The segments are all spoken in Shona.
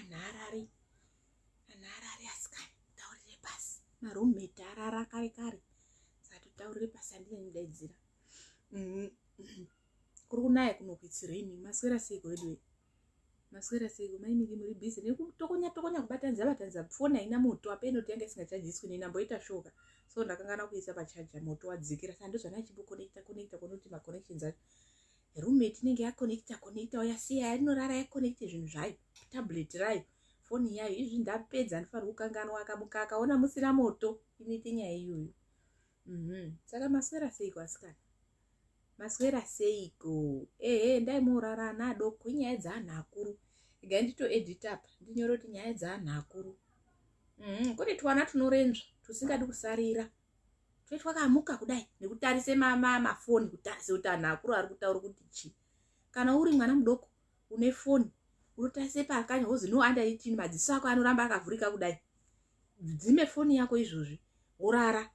anharari anharari asikana taurire pasi maroommate arara kare kare sati taurire pasi andine mudaidzira mm-hmm. kuri kunaya kunokwitsireni maswera seiko weduwe maswera seiko mainiki muri busy nekutokonya tokonya kubatanidza batanidza foni haina moto apa inoti yanga isingachajiswi neni amboita shoka so ndakangana kuisa pachaja moto wadzikira sando zvana chibokonekta konekta konoti maconnections acho roommate inenge yaconnecta connecta yasiya yarinorara yaconnecte zvinhu zvayo tablet rayo foni yayo izvi ndapedza ndifanira kukanganwa akamuka akaona musina moto inoite nyaya iyoyo mhm. saka maswera seiko asikana maswera seiko ehe ndai morara ana adoko inyaya dzeanhu akuru igai nditoedita apa ndinyore kuti nyaya dzeanhu akuru mhm. kune twana tunorenzva tusingadi kusarira mm -hmm. tete wakamuka kudai nekutarise mafoni kutarise kuti anhu akuru ari kutaura kuti chii kana uri mwana mudoko une foni unotarise pakanya wozi no under eighteen madziso ako anoramba akavhurika kudai dzime foni yako izvozvi worara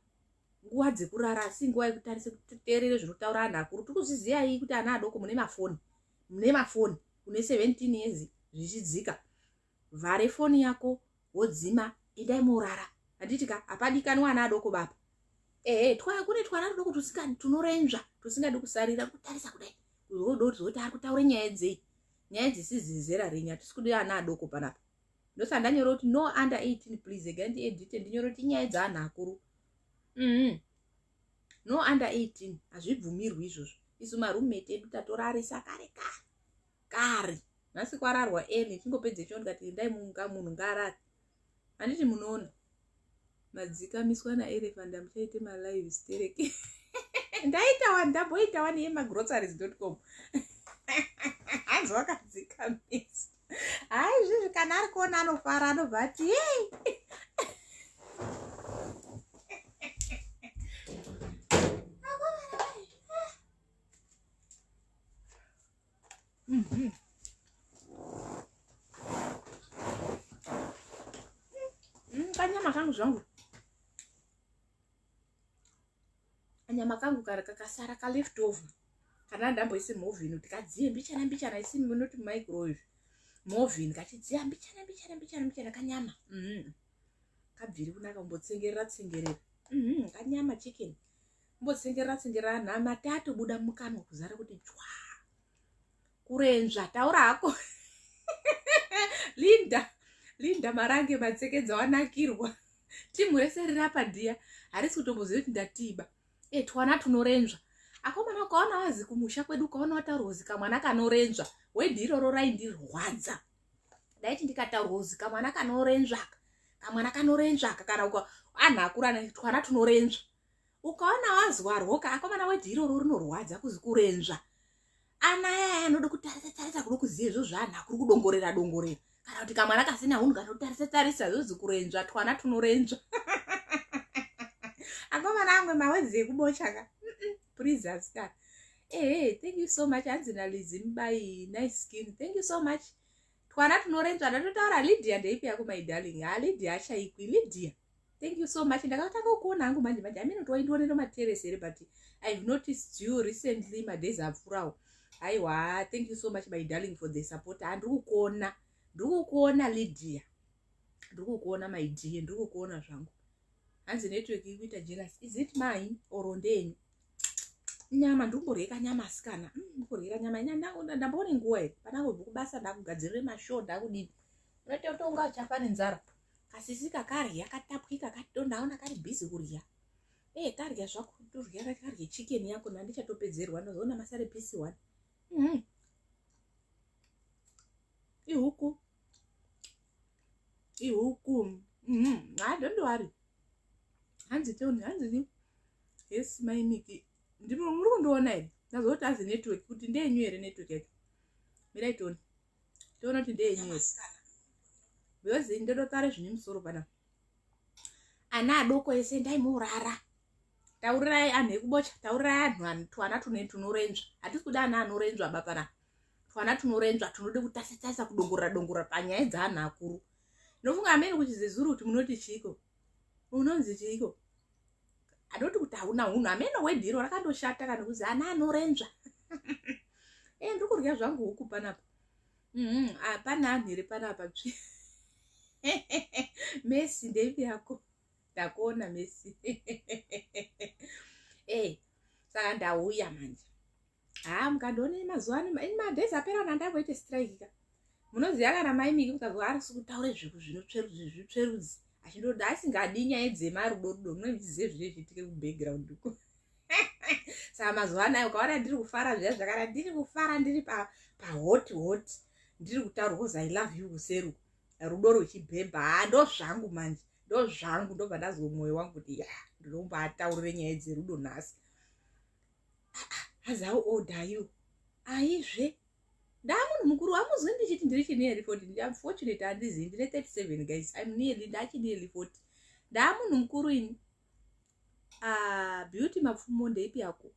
nguva dzekurara asi nguva yekutarise kuteerere zvinotaura anhu akuru tiri kuzviziyai kuti ana adoko mune mafoni mune mafoni une seventeen years zvichidzika vhare foni yako wodzima endai morara handiti ka hapadikanwa ana adoko baba ehe twaya kune twana tudoko tusikani tunorenzva tusingadi kusarira kutarisa kudai zodoti ari kutaura nyaya dzei nyaya dzisizi zera renyu hatisi kudi ana adoko panapa ndosaka ndanyora kuti no under 18 please ega ndiedite ndinyora kuti nyaya dzaanhu akuru mm-hmm. no under 18 hazvibvumirwi izvozvo isu marumete edu tatorarisa kare kare kare nhasi kwararwa eni chingopedze choo ndikati endai munga munhu ngaarare handiti munoona madzikamiswa naerefanda muchaite malive stereke ndaitawa ndamboitawa neye magroceries dot com hanzi wakadzikamisa hai izvizvi kana ari kuona anofara anobva ati yei mm -hmm. mm, kanyama kangu zvangu kanyama kangu kari kakasara kaleft over kana ndamboisi movin kuti kadziye mbichana mbichana isi munoti micro izvi movin kachidziya mbichana mbichana mbichana mbichana kanyama mm -hmm. kabviri kunaka kumbotsengerera tsengerera mm -hmm. kanyama chicken mbotsengerera tsengerera anhu amati atobuda mukanwa kuzara kuti chwa kurenzva taura hako linda linda marange matsekedza wanakirwa timu rese riri apa dhiya harisi kutomboziva kuti ndatiba e twana tunorenzva akomana ukaona wazi kumusha kwedu ukaona wataurwa uzi kamwana kanorenzva wedhi iroro raindirwadza ndaiti ndikataurwa uzi kamwana kanorenzvaka kamwana kanorenzvaka kana anhu akurana twana tunorenzva ukaona wazuwa rwoka akomana weti iroro rinorwadza kuzi kurenzva ana yaya anoda kutarisa tarisa kuda kuziva izvo zvanhu akuri kudongorera dongorera kana kuti kamwana kasina hunhu kanotarisa tarisa zvozi kurenzva twana tunorenzva akomana amwe mawedzi ekubochaka please ascar ehe thank you so much hanzi nalizi mubai nice skin thank you so much twana tunorenzvana totaura lydia ndeipi yako my darling ha lydia achaikwi lydia thank you so much ndakatanga kuona hangu manje manje amene kuti waindionero materes here but ihave noticed you recently madays apfurawo aiwa thank you so much my darling for the support ha ndiri kukuona ndiri kukuona lydia ndiri kukuona my dear ndiri kukuona zvangu hanzi network ikuita jealous is it mine or ndenyu nyama ndikumborye kanyama asikana mm, ndikuryira nyama ndamboone nguva here pandangobva kubasa ndakugadzirire mashoo ndakudini unoita kuti unga uchafa nenzara kasisi kakarya katapwika katondaona kari bhizi kurya e eh, karya zvako torya karye chicken yako nandichatopedzerwa ndozoona masare pisi one mm-hmm. ihuku ihuku mhm, ha don't worry hanzi toni hanzi ni yes mai miki ndiri muri kundiona here ndazoti azi network kuti ndeyenyu here network yacho mirai toni toona kuti ndeyenyu here because ndototare zvine musoro pana ana adoko ese ndaimurara taurirai anhu ekubocha taurirai anhu twana tune tunorenzva hatisi kuda ana anorenzva bapana twana tunorenzva tunode kutasatarisa kudongorora dongorora panyaya dzaanhu akuru nofunga amene kuti zezuru kuti munoti chiiko unonzi chiiko anoti kuti hauna hunhu amene wedhiro rakandoshata kana kuzi ana anorenzva e eh, ndiri kurya zvangu huku panapa mm-hmm. hapana ah, anhu here panapa tsvi mesi ndeipi yako ndakuona mesi e saka ndauya manje haa mukandione mazuva ano ini madays apera kana ndamboite strike ka munoziva kana mai miki mukazwa arisi kutaure zvinhu zvinotsverudzi achindoda asingadi nyaya dzemarudo rudo mune muchizive zvine zviitike kubackground uko saka mazuva anayo ukaona ndiri kufara zviya zvakana ndiri kufara ndiri pahoti hoti ndiri kutaura bcause i love you kuseru rudo rwechibhebha haa ndo zvangu manje ndo zvangu ndobva ndazwe mwoyo wangu kuti ya ndinombataurire nyaya dzerudo nhasi as how old are you aizve ndamunhu mukuru wamuzwi ndichiti ndiri chinearly forty unfortunate handizi ndine thirty seven guys im nearly ndachinearly forty ndamunhu mukuru ini ah, beauty mapfumo ndeipi yako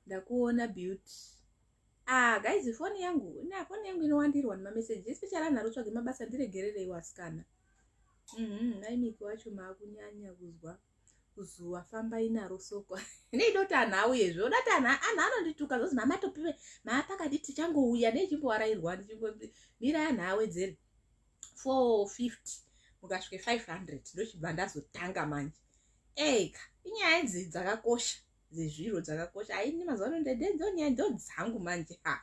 ndakuona beauty ah, guys foni yangu na foni yangu inowandirwa nemameseji especially anharo tsvage mabasa ndiregerereiwo asikana mm -hmm, naimiki wacho maakunyanya kuzwa kuzuva fambai naro soko neida kuti anhu auye zve oda kuti anhu anhu anondituka zvozi mamatopiwe maapakati tichangouya neichimboarairwa ndichimbomira anhu awedzere four fifty mukasvike five hundred ndochibva ndazotanga manje eka inyaya idzi dzakakosha dzezviro dzakakosha aini mazuva ano ndedendo nyaya ndo dzangu manje ha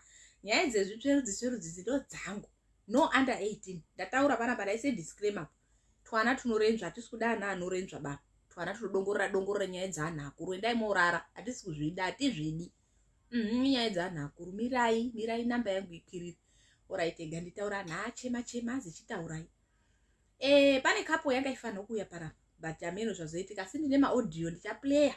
nyaya dzezvitsverudzi tsverudzi dzindo dzangu no under eighteen ndataura panapa ndaise disclaimer pa twana tunorendzva hatisi kuda ana anorendzva baba twana tunodongorora dongorora nyaya dzeanhu akuru endai morara hatisi kuzvida hatizvidi mhm, nyaya dzeanhu akuru mirai mirai namba yangu ikwiriri oraitega nditaura anhu achema chema azichitaurai e, eh, pane kapo yanga ifanira kuuya para but ameno zvazoitika asi ndine maaudio ndichaplayer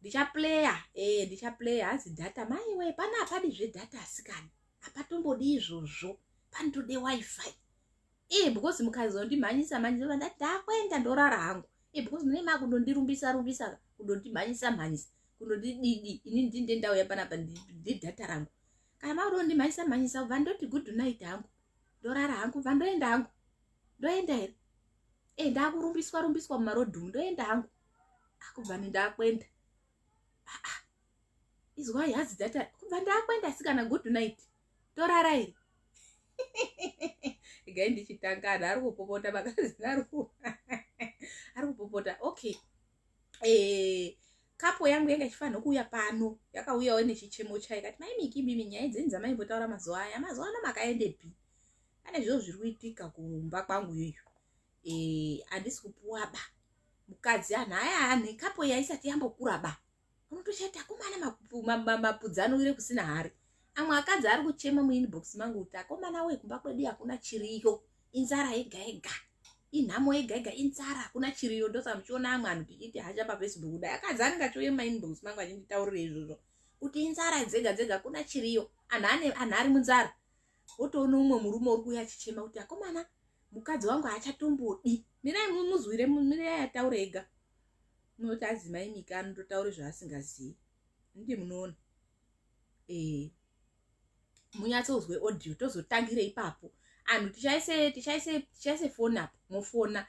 ndichaplayer e, eh, ndichaplayer hanzi data maiwe pana apadi zvedata asikani apatombodi izvozvo panotode wifi e eh, because mukazondimhanyisa mhanyisa vanda ndakuenda ndorara hangu e eh, because mune makundondirumbisa rumbisa kundondimhanyisa mhanyisa kundondididi ini ndinde ndauya panapa ndidhata rangu kana makundondimhanyisa mhanyisa va ndoti good night hangu ndorara hangu va ndoenda hangu ndoenda here e eh, ndakurumbiswa rumbiswa mumarodhumu ndoenda hangu akubva ah, nendakuenda ah, ah. izwai hazi dhata kubva ndakuenda sikana good night torara iri igai ndichitanga anhu ari kupopota vakadzi ari kupopota okay eh, kapo yangu yanga ichifanira kuuya pano yakauyawo nechichemo chayo kati maimiki mimi nyaya dzenyu dzamaimbotaura mazuva aya mazuva ano makaendepi pane zviro zviri kuitika kumba kwangu yoyo eh, handisi kupuwa ba mukadzi anhu aya anhu kapo yaisati yambokura ba unotoshati akomana mapudzanowire kusina hari amwe akadzi ari kuchema muinbox mangu kuti akomana we kumba kwedu hakuna chiriyo inzara yega yega inhamo yega yega inzara hakuna chiriyo ndosaka muchiona amwe anhu tichiti hasha pafacebook kudai akadzi anenge achiuye mumainbox mangu achinditaurira izvozvo kuti inzara dzega dzega hakuna chiriyo anhu ari munzara wotoona umwe murume uri kuuya achichema kuti akomana mukadzi wangu haachatombodi mirai mumuzwire mirai ataure ega umwe kuti adzi mai mika anototaura zvaasingazivi ndi munoona ee munyatsonzwe audio tozotangire ipapo anhu tichaise tichaise tichaise foni apo mofona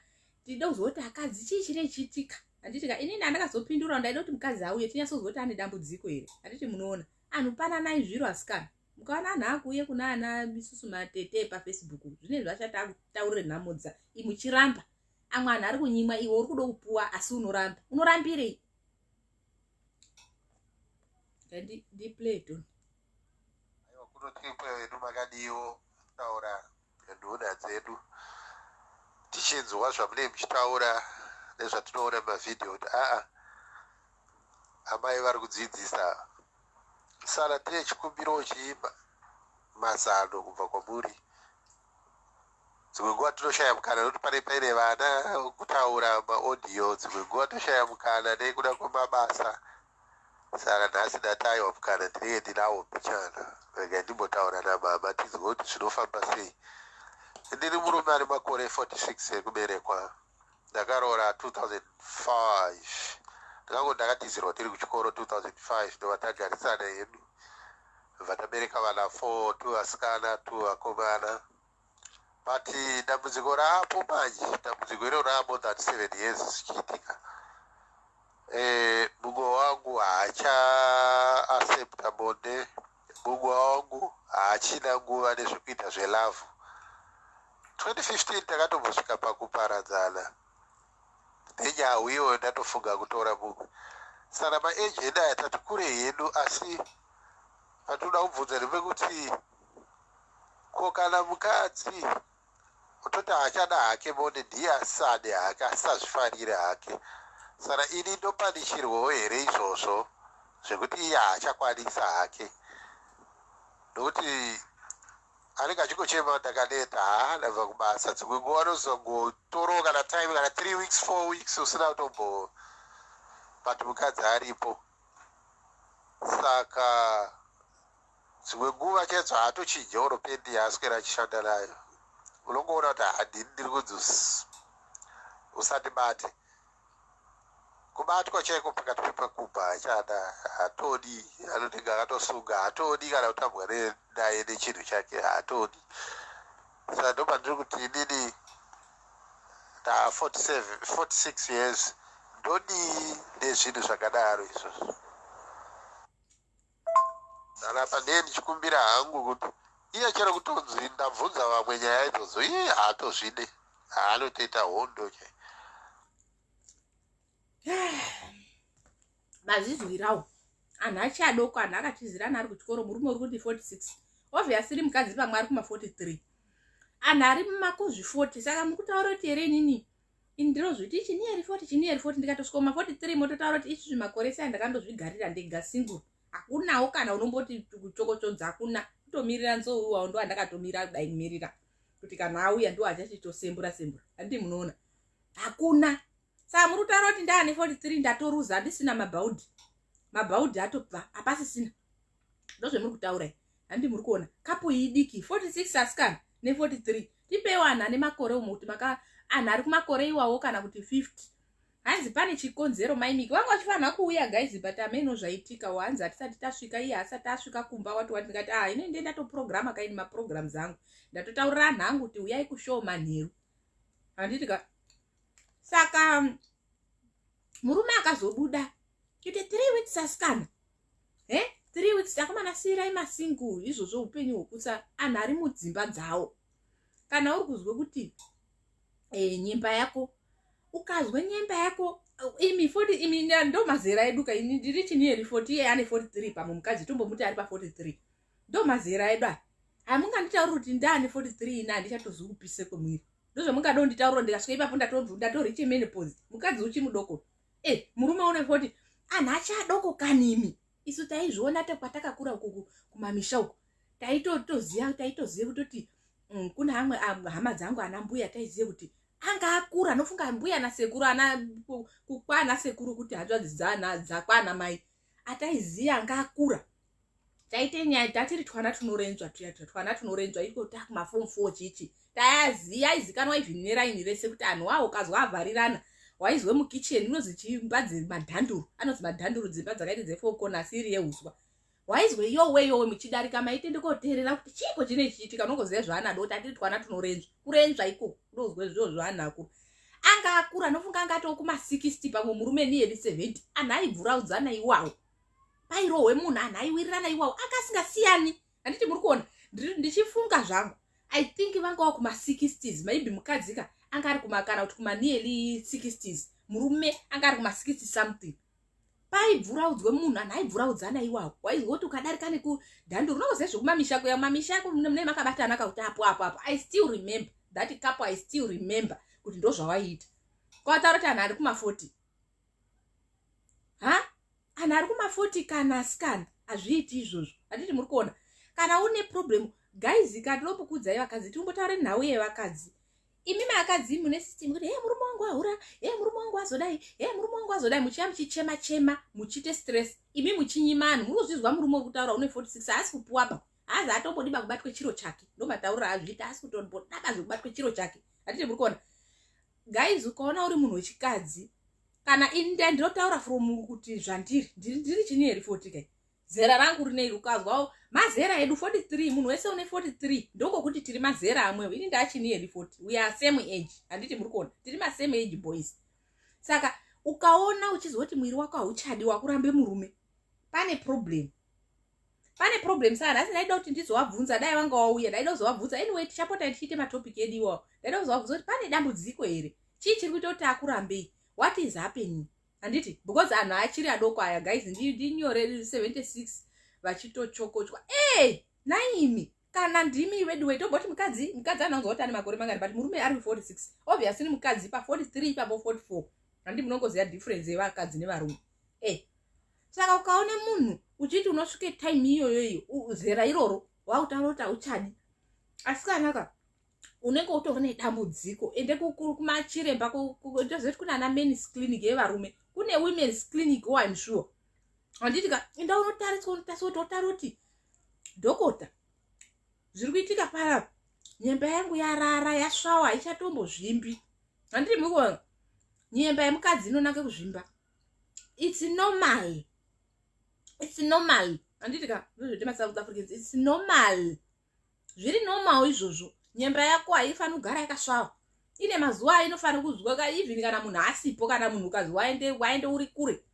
tide kuzwa kuti akadzi chii chiri chiitika handitika inini andakazopindura ndaida kuti mukadzi auye tinyatsonzwa kuti ane dambudziko here handiti munoona anhu pananai zviro asikana mukaona anhu akuuye kuna ana isusu matete pafacebook zvine zvachataurire nhamodza imuchiramba amwe anhu ari kunyimwa iwe uri kuda kupuwa asi unoramba unorambirei ndiplayton aiwa kunotikwe vedu makadiwo taura nduna dzedu tichinzwa zvamunei muchitaura nezvatinoona mumavhidhiyo kuti aa amai vari kudzidzisa sara tine chikumbiro chiimba mazano kubva kwamuri dzimwe nguva tinoshaya mukana nokuti pane paine vana kutaura maaudio dzimwe nguva toshaya mukana nekuda kwemabasa saka nhasi ndataiwa mukana ndinenge ndinawo mbichana rega ndimbotaura namama tinzwe kuti zvinofamba sei ndiri murume ari makore 46 ekuberekwa ndakaroora 2005 ndikango ndakatizirwa tiri kuchikoro 2005 ndova tagarisana hedu vatabereka vana 4 two vasikana two vakomana but dambudziko raapo manje dambudziko iro raa more than seven years zvichiitika eh, mumwe wangu haacha accepta bonde Mumwe wangu haachina nguva nezvekuita zvelavhu. 2015 takatombosvika pakuparadzana nenyau iyoyo ndatofunga kutora mumwe. Saka maeji edu aya tati kure hedu asi patinoda kubvunza ndepekuti ko kana mukadzi Kutoti haachada hake bonde ndiye asisade hake asisazvifarire hake saka ini ndopanishirwawo here izvozvo zvekuti iye haachakwanisa hake nokuti anenge achingochema ndakaneta haa ndabva kubasa dzimwe nguva anozongotorowo kana time kana three weeks four weeks usina kutombo but mukadzi aripo saka Dzimwe nguva Kenzo haatochinje or pen yaaswera achishanda nayo unongoona kuti haa ndini ndiri kunzi uss usandibate. Kubatwa chaiko pakati pepakubva hachada, haatodi anotenge akatosunga, haatodi kana kutambwa ne- naye nechinhu chake haatodi. Saka ndopandiri kuti inini nda 47 46 years ndodii nezvinhu zvakadaro izvozvo. Kana pane ndichikumbira hangu kuti iye chero kutonzi ndabvunza vamwe nyaya idzodzo iye haatozvide haanotoita hondo chai mazizwirawo anhu achi adoko anhu akatizirana ari kuchikoro murume uri kuti 46 obviously mukadzi pamwe ari kuma 43 anhu ari mumakuzvi 40 saka mukutaura kuti here inini ini ndinozviti ichi niyeri foti ichi niyeri foti ndikatosvika kuma 43 mototaura kuti izvizvi makore sei andakandozvigarira ndega single hakunawo kana unomboti kuchokochodza hakuna kutomirira nzou iwawo ndo andakatomira kudai kumirira kuti kana auya ndo achachitosembura sembura handii munoona hakuna saa muri kutaura kuti ndaane 43 ndatoruza handisina mabhaudhi mabhaudhi atobva hapasisina ndozvemuri kutaura handi muri kuona kapu iyi diki 46 asikana ne 43 tipeiwo anhu ane makore umwe kuti maka anhu ari kumakore iwawo kana kuti 50 hanzi pane chikonzero maimiki vanga vachifanira kuuya guys but ameno zvaitika hanzi hatisati tasvika iye haasati asvika kumba wati wati ndikati ah ine ndiye ndatoprograma kaini maprogram zangu ndatotaurira anhu angu kuti uyai kushow manheru handiti ka saka murume akazobuda ite three weeks asikana he eh, three weeks akomana siyirai masingle izvozvo upenyu hwokutsa anhu ari mudzimba dzawo kana uri kuzwe kuti e, nyemba yako ukazwe nyemba yako imi foti imi ndo mazera edu ka ini ndiri chini yeri foti iye ane foti three pamwe mukadzi tombomuti ari pafoti three ndo mazera edu aya hamunganditauri kuti ndaane foti three ina handichatozi kupise kwemwiri ndozvamungada unditaura ndikasvika ipapo ndatorichemenopose mukadzi uchimudoko eh murume une 40 anhu achadoko kanimi isu taizviona takwatakakura ukuku kumamisha uku taitotoziva taitoziva kutoti mm, kune amwe hama dzangu ana mbuya taiziva kuti anga akura anofunga mbuya nasekuru ana kukwana sekuru kuti hanzvadzi dzana dzakwana mai ataiziva anga akura taite nyaya tatiri twana tunorenjwa tuya tuya twana tunorenjwa iko takumafomu four chichi tayaziya aizikanwa even neraini rese kuti anhu wawo ukazwa avharirana waizwe mukitchen unonzi chimba dzemadhanduru anonzi madhanduru dzimba dzakaita dzefour corner siri yeuswa waizwe yowe yowe muchidarika maitende koteerera kuti chiiko chine chiitika unongoziva zvaana doti atiri twana tunorenjwa kurenjwa ikoko unozwe zvio zvaana akuru anga akura anofunga anga atoo kuma 60 pamwe murume niyeri 70 anhu aibvuraudzana iwawo pairohwe munhu anhu aiwirirana iwawo anga asingasiyani handiti muri kuona ndichifunga zvangu i think vanga wa kuma60s maybe mukadzi ka anga ari kumakana kuti kumanearly 60s murume anga ari kuma60 something paibvuraudzwe munhu anhu aibvuraudzana iwawo waizoti ukadarika nekudhandi unoziva zvekumamisha kuya mamisha ako mune makabatana kakuti apo apo apo i still remember that kapo i still remember kuti ndozvawaiita kwataura kuti anhu ari kuma40 ha anhu ari kumafoti kana asikana hazviiti izvozvo handiti muri kuona kana une problem guys katinombokuudzai vakadzi tinombotaure nhau yevakadzi imi maakadzi mune system kuti he murume wangu ahura he murume wangu azodai he murume wangu azodai muchiva muchichema chema muchiite stress imi muchinyima anhu muri kuzvizwa murume wekutaura une 46 haasi kupuwaba haazi atombodiba kubatwe chiro chake ndomataurira azviita haasi kutodaba zvekubatwe chiro chake hatiti muri kuona guys ukaona uri munhu wechikadzi kana ini nda ndinotaura from kuti zvandiri ndiri chini here foti kai zera rangu rineiri ukazwawo mazera edu 43 munhu wese une 43 ndokokuti tiri mazera amwewo ini ndachini here foti we are same age handiti muri kuona tiri masame age boys saka ukaona uchizoti mwiri wako hauchadi wakurambe murume pane problem pane problem sana asi ndaida kuti ndizovabvunza dai vanga wauya ndaida kuzovabvunza anyway tichapota tichiite matopic edu iwawo ndaida kuzovabvunza kuti pane dambudziko here chii chiri kuita kuti akurambei what is happening handiti because anhu achiri adoko aya guys ndinyore 76 vachitochokochwa e naimi kana ndimi veduwe toboti mukadzi mukadzi anonzwa kuti ane makore mangani but murume ari 46 obviously mukadzi pa 43 ipapo 44 handi munongoziva difference yevakadzi nevarume e eh. saka ukaona munhu uchiti unosvike time iyoyo iyo zera iroro wautaura kuti hauchadi asi kanaka unenge utova nedambudziko ende kumachiremba ndozoti kune ana mens clinic yevarume kune womens clinic wo oh, im sure handiti ka enda unotariswa unotariswa kuti otari kuti dhokota zviri kuitika paya nyemba yangu yarara yasvawa haichatombo zvimbi handiti mukuona nyemba yemukadzi inonake kuzvimba its normal its normal handiti ka ndozvete masouth africans its normal zviri normal izvozvo nyemba yako haifanira kugara yakasvava ine mazuva ainofanira kuzwa ka even kana munhu asipo kana munhu ukazi waende waende uri kure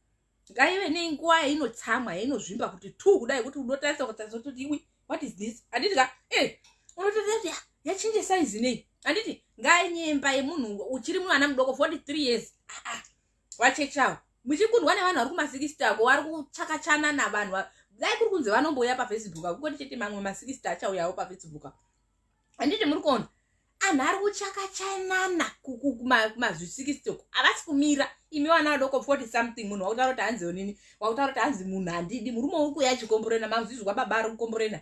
ngaive nenguva yainotsamwa yainozvimba kuti two kudai kuti unotarisa kutarisa kuti iwi what is this handiti ka e eh, unotoati ah, yachinje saizi nei handiti ngainyemba yemunhu uchiri mwana mudoko 43 years ah, ah. vachechi avo muchikundwa nevanhu vari kumasikisita ako vari kuchakachana navanhu dai kuri kunzi vanombouya pafacebook akungoti chete mamwe masikisita achauyawo pafacebook handiti muri kuona anhu ari kuchakachanana kumazvisikisita uku havasi kumira imi vana vadoko 40 something munhu wakutaura kuti hanzi onini wakutaura kuti hanzi munhu handidi murume uri kuya achikomborena mazvizwa baba ari kukomborena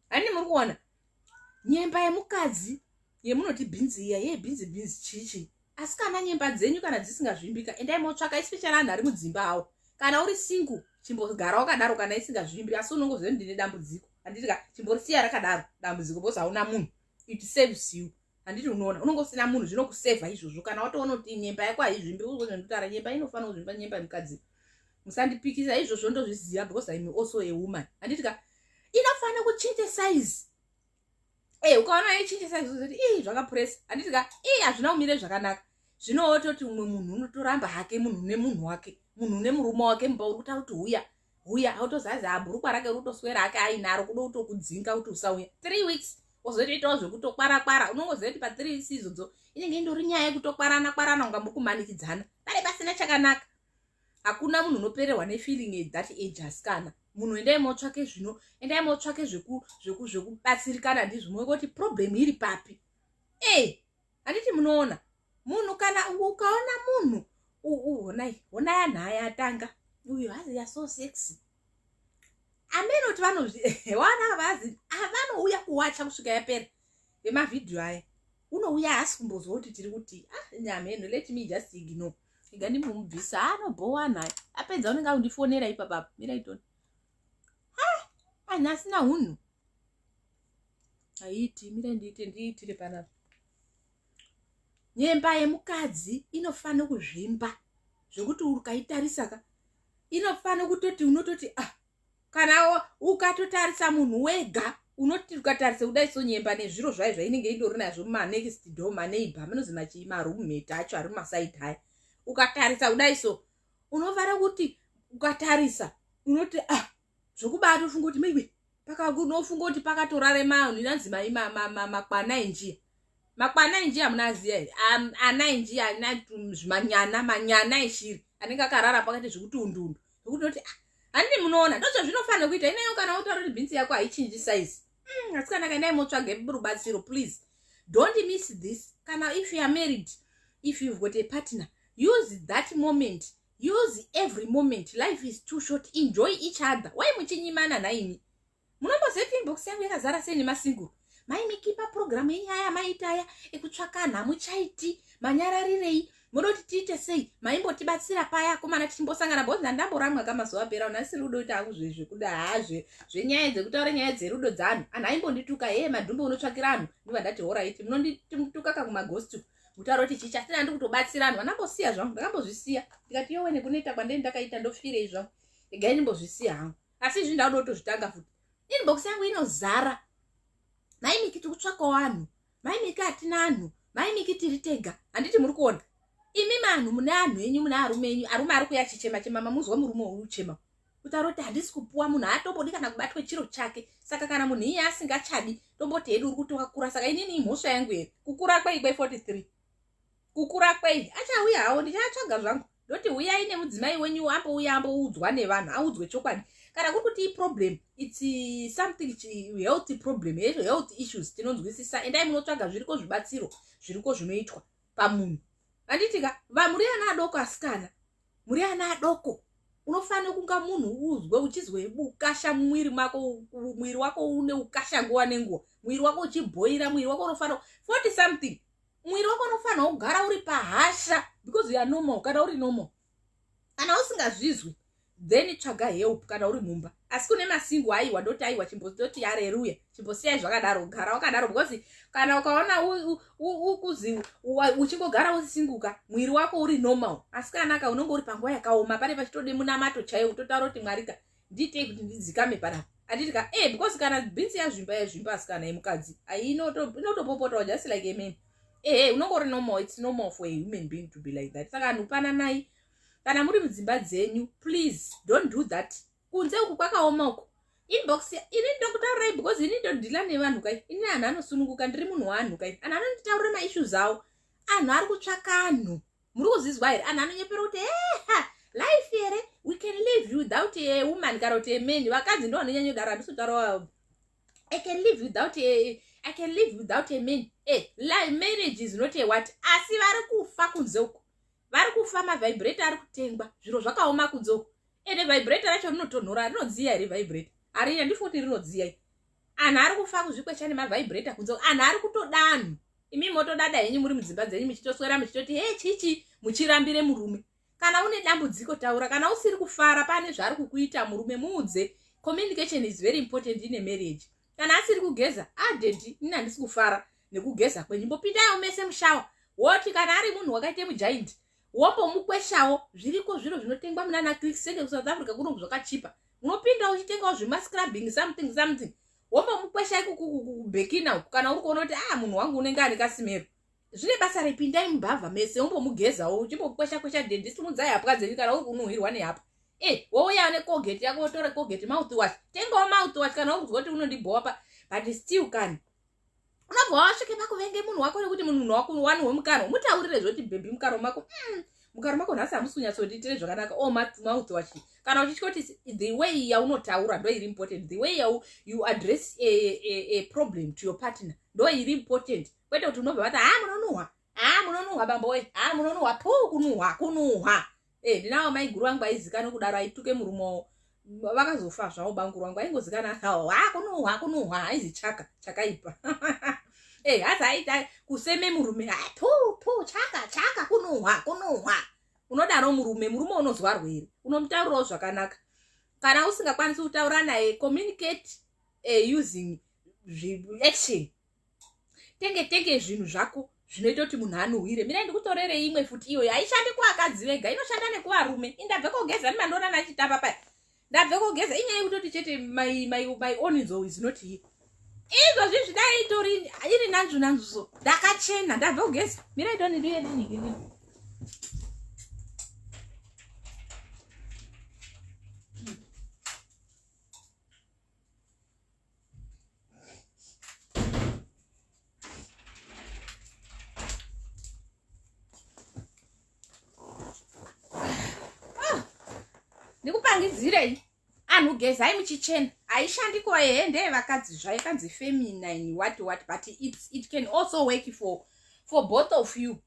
hani muri kuona nyemba yemukadzi yemunoti bhinzi iya yee bhinzi bhinzi chichi asi kana nyemba dzenyu kana dzisingazvimbika endai motsvaka isipechana anhu ari mudzimba awo kana uri singu chimbogara wakadaro kana isingazvimbi asi unongo zve ndine dambudziko handiti ka chimbori siya rakadaro dambudziko bcause hauna munhu it saves you handiti unoona unonge usina munhu zvinokusevha izvozvo kana watoona kuti nyemba yako haizvimbi uozvendotara nyemba inofanira kuzvimba nyemba yemukadzi musandipikisa izvozvo ndozviziva because im also a woman handiti ka inofanira kuchinja size e eh, ukaona aichinja size uzoti ii zvakapuresa handiti ka ii hazvina kumire zvakanaka zvino wototi umwe munhu unotoramba hake munhu une munhu wake munhu une murume wake mumba uri kutaura kuti huya huya autozazi ha bhurukwa rake rutoswera hake ainaro kuda kutokudzinga kuti usauya three weeks wozotoitawo zvekutokwara kwara unongoziva kuti pa three weeks izodzo inenge indori nyaya yekutokwarana kwarana unga mukumanikidzana pane pasina chakanaka hakuna munhu unopererwa nefeeling at that age asikana munhu endai motsvake zvino endai motsvake zvekubatsirikana ndizvo moekoti problem iri papi e handiti munoona munhu kana ukaona munhu honai honai anhu aya atanga uyu hazi yaso sexy amene kuti vanozviwana vazi avanouya kuwacha kusvika yapera vemavhidhiyo aya unouya haasi kumbozwa kuti tiri kuti ah nyameno let me just ignore iga ndimumubvisa anobhowa ah, naye apedza unenge akundifonera ipapapa miraiton anhu asina hunhu haiiti mira ndiite ndiitire panapa nyemba yemukadzi inofanira kuzvimba zvekuti ukaitarisaka inofanira kutoti unototi ah kana ukatotarisa munhu wega unoti ukatarisa kudai so nyemba nezviro zvayo zvainenge indori nazvo manext do maneiba manozi machii marumheta acho ari mumasaidi aya ukatarisa kudai so unofanira kuti ukatarisa unoti ah zvokubatofunga kuti maybe pakakunofunga kuti pakatorare manhu inanzi mai makwana enjiya makwana enjiya munaziya here ana enjiya ana zvimanyana manyana eshiri anenge akarara pakati zvekuti undundu zvekuti unoti ah handii munoona ndozvazvinofanira kuita ineyo kana utaura kuti bhinzi yako haichinji saizi mm, asikana kandai motsvage rubatsiro please don't miss this kana if youare married if you've got a partner use that moment use every moment life is too short enjoy each other why muchinyimana nhaimi munombozeti inbox yangu yakazara sei nemasingle maimikipa programu yenyaya maitaya ekutsvaka nhamuchaiti manyararirei moda kuti tiite sei maimbotibatsira paya akomana tichimbosangana bhozi ndandamboramwa ka mazuva apera una siri rudo ita hangu zvezvekuda haa zve zvenyaya dzekutaura nyaya dzerudo dzaanhu anhu aimbondituka hee madhumbe unotsvakira anhu ndiva ndati horaiti munondituka kakumagostu kutaura kuti chichi asi ndandi kutobatsira anhu vanambosiya zvangu ndakambozvisiya ndikati yowe nekuneta kwandei ndakaita ndofirei zvangu egai ndimbozvisiya hangu asi izvi ndauda kutozvitanga futi inbox yangu inozara maimiki tikutsvaka wanhu mai miki hatina anhu mai miki tiri tega handiti muri kuona imi manhu mune anhu enyu mune arume enyu arume ari kuya chichema chema mamuzwa murume uyu uchema kutaura kuti handisi kupuwa munhu haatombodi kana kubatwa chiro chake saka kana munhu iye asingachadi tomboti hedu uri kuti wakura saka inini imhosva yangu here kukura kwei kwei 43 kukura kwei achauya hawo ndichaatsvaga zvangu ndoti huyai nemudzimai wenyu ambo uya ambo udzwa nevanhu audzwe chokwadi kana kuri kuti iproblem its uh, something health problem health issues tinonzwisisa endai munotsvaga zviriko zvibatsiro zviriko zvinoitwa pamunhu anditika va muri ana adoko asikana muri ana adoko unofanira kunga munhu uzwe uchizwe ukasha mumwiri mako mwiri wako une ukasha nguva nenguva mwiri wako uchibhoira mwiri wako unofanira 40 something mwiri wako unofanira kugara uri pahasha because youare normal kana uri normal kana usingazvizwi then tsvaga help kana uri mumba asi kune masingo aiwa ndoti aiwa chimbototi yareruya chimbosiyai zvakadaro gara wakadaro because kana ukaona ukuzi uchingogara usisinguka mwiri wako uri normal asi kanaka unenge uri panguva yakaoma pane pachitode munamato chaiwo kutotaura kuti mwarika ndiitei kuti ndidzikame panapa anditi ka e because kana bhinzi yazvimba yazvimba asikana yemukadzi inotopopotawo just like amen ehe unonge uri normal its normal for a human being to be like that saka anhu pananai kana muri mudzimba dzenyu please don't do that kunze uku kwakaoma uku inbox ini ndokutaurai because ini ndodhila nevanhu kai ini anhu anosununguka ndiri munhu wanhu kai anhu anonditaurira maissues avo anhu ari kutsvaka anhu muri kuzvizwa here anhu anonyepera kuti eha life here we can live without a woman kana kuti aman vakadzi ndo vanonyanya kudaro handisi kutaura i can live without a i can live without a man e life marriage is not a what asi vari kufa kunze uko vari kufa mavibrator ari kutengwa zviro zvakaoma kunze uko ende vibrator racho rinotonhora rinodziya here vibrator harina ndifuti rinodziya anhu ari kufa kuzvikwecha nemavibrator kunze anhu ari kutoda anhu imi motodada henyu muri mudzimba dzenyu muchitoswera muchitoti he chichi muchirambire murume kana une dambudziko taura kana usiri kufara pane zvaari kukuita murume muudze communication is very important ine marriage kana asiri kugeza adedi ah, ini handisi kufara nekugeza kwenyu mbopindayo mese mushawa woti kana ari munhu wakaite mujaindi wombomukweshawo zviriko zviro zvinotengwa munana click senge kusouth africa kuno zvakachipa unopinda uchitengawo zvemascrubbing something something wombomukwesha ikukubhekina uku kana uri kuona kuti a ah, munhu wangu unenge ane kasimero zvine basa repindai mumbavha mese wombomugezawo uchimbokwesha kwesha dendisumudzai hapwa dzenyu kana uri kunuhwirwa nehapwa e eh, wouya necogate yako wotore cogate mouth wash tengawo mouth wash kana uri kuzwa kuti unondibhowa pa but still kani unobva wasvike pakuvenge munhu wako nekuti munhu wako wani wemukanwa mutaurire zvoti bhebhi mukanwa mako mm, mukanwa mako nhasi hamusi kunyatsotiitire zvakanaka o oh, mouth wachi kana uchitya kuti the way yaunotaura ndo iri important the way yau you address a, a, a problem to your partner ndo iri important kwete kuti unobva vati haa ah, munonuhwa haa munonuhwa bambo we haa munonuhwa puu kunuhwa kunuhwa e eh, ndinawo maiguru vangu aizikana kudaro aituke murumowo vakazofa zvavo banguru vangu aingozikana hao haa kunuhwa kunuhwa aizi chaka chakaipa e eh, hasi aita kuseme murume haa puu puu chaka chaka kunuhwa kunuhwa unodaro murume murume unozwa rwere unomutaurirawo zvakanaka kana usingakwanisi kutaura naye communicate uh, using action tenge tenge zvinhu zvako zvinoita kuti munhu anuhwire mina ndikutorere imwe futi iyoyo haishandi kuvakadzi vega inoshanda nekuvarume indabve kogeza ndimandoona nachitamba paya ndabve kogeza inyaya yekutoti chete my own nzou is not here izvozvi zvidai itori iri nanzvu nanzvu so ndakachena ndabve kogeza mira idoni ndiye nenhiki nini ndikupangidzirei anhu gezai muchichena haishandi kuva yeye ndeye vakadzi zvayo kanzi feminine what what but it, it can also work for, for both of you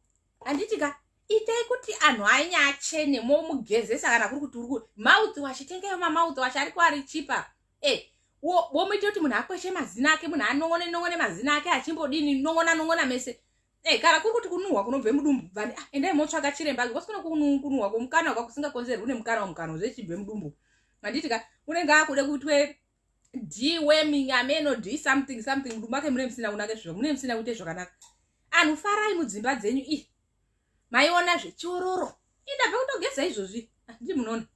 handiti ka itai kuti anhu ainye achene momugezesa kana kuri kuti uri mouth wash tengeyo mamouth wash ariko ari chipa e womoita kuti munhu akweshe mazina ake munhu anong'one nong'one mazina ake achimbodini nong'ona nong'ona mese e kana kuri kuti kunuhwa kunobve mudumbu bvani ah, endai motsvaga chiremba because kune kunuhwa kwomukanwa kwakusingakonzerwi nemukanwa mukanwa zvechibve mudumbu handiti ka unenge akude kutwe deweming ameno do something something mudumbu ake mune musina kunake zviva mune musina kuite zvakanaka anhu farai mudzimba dzenyu i maiona zvechiororo indabva kutogeza izvozvi handii ah, munoona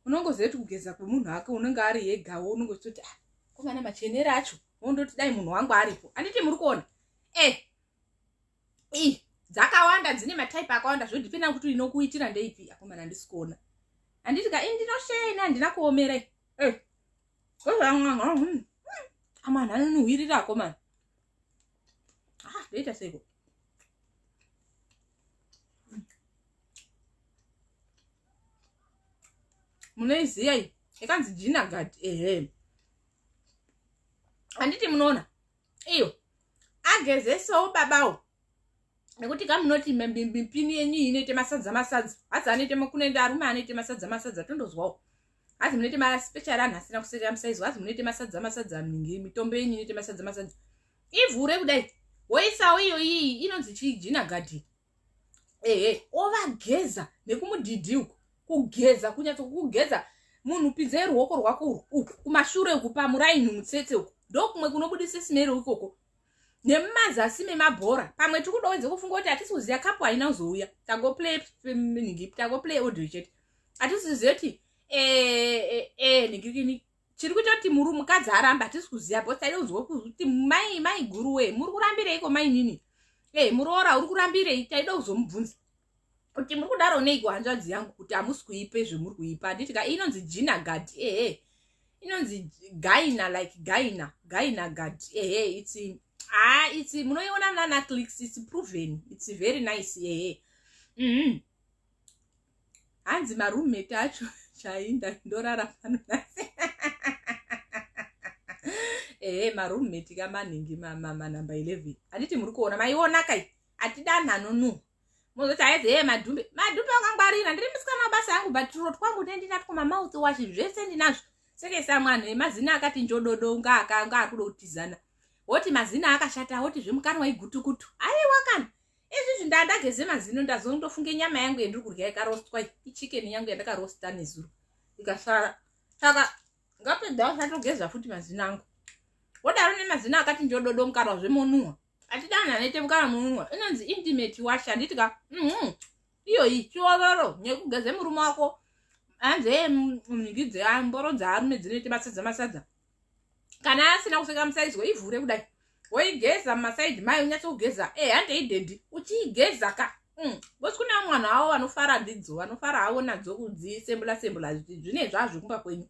unongoziva kuti kugeza kwemunhu ake unenge ari yegawo unenge uchitoti ah, komana machenere acho wondoti dai munhu wangu aripo handiti muri kuona e eh, i dzakawanda dzine mataipe akawanda zvodipenda kuti inokuitira ndeipi akomana handisi kuona handiti ka i ndinosheya ini handina kuomera e eh, amana anonihwirira akomana ah ndoita seiko munoiziva iyi ikanzi jina gadi ehe handiti munoona iyo agezesawo babawo nekuti kamunoti mbimbini yenyu iyi inoite masadza masadza hadzi anoite makunende arume anoite masadza masadza tondozwawo hazi munoite maspecial anhu asina kusekera musaizi hazi munoite masadza masadza mingi mitombo yenyu inoite masadza masadza ivhure kudai woisawo iyo iyi inonzi chijina gadhi ehe ovageza nekumudhidhi uku kugeza kunyatso kugeza munhu pinzei ruoko rwako uku kumashure uku pamuraini mutsetse uku ndokumwe kunobudisa smero ikoko nemumazasi memabhora pamwe tiri kuda wenze kufunga kuti hatisi kuziva kapu haina kuzouya tagoplay nhingi tagoplay audio chete hatisi kuziva kuti eh, eh, eh, nhingi chiri kuita kuti muri mukadzi aramba hatisi kuziva bcause taida kuzwa kuti mai mai guru wee muri kurambireiko mainini e muroora uri kurambirei taida kuzomubvunza kuti muri kudaro neiko hanzvadzi yangu kuti hamusi kuipe zvemuri kuipa handiti ka inonzi jina gad ehe inonzi gaina like gaina gaina gad ehe itsi haa itsi munoiona nana clicks its proven its very nice ehe mm -hmm. hanzi maroommate acho chainda ndorara pano nase ehe maroommate kamanhingi manumber 11 handiti muri kuona maiona kai atidanhanonuha mozoti haizi hee madhumbe madhumbe akangwarira ndiri musikana mabasa yangu but turo twangu ne ndinatwo mamouth wash zvese ndinazvo seke samwanhu emazina akati njododo unga akanga ari kuda kutizana woti mazina akashata woti zvemukanwa igutukutu aiwa kana izvizvi ndandageze mazino ndazondofunge nyama yangu yendiri kurya ikarostwa ichikeni yangu yandakarosta nezuro ikasara saka ngapedza usatogeza futi mazina angu wodaro nemazina akati njododo mukarwa zvemonuhwa atidanane tevukana mununwa inonzi intimate wash handiti ka mm-hmm. iyoyi chiororo nekugeze murume wako hanzi ee mhiki dzemboro dzaarume dzinoite masadza masadza kana asina kuseka musaizi weivhure kudai woigeza mumasaidi mai unyatse kugeza e handei dedi uchiigeza ka mm. bcause kuna mwana wavo vanofara ndidzo vanofara havo nadzo kudzisembula sembula zvine zvazvo kumba kwenyu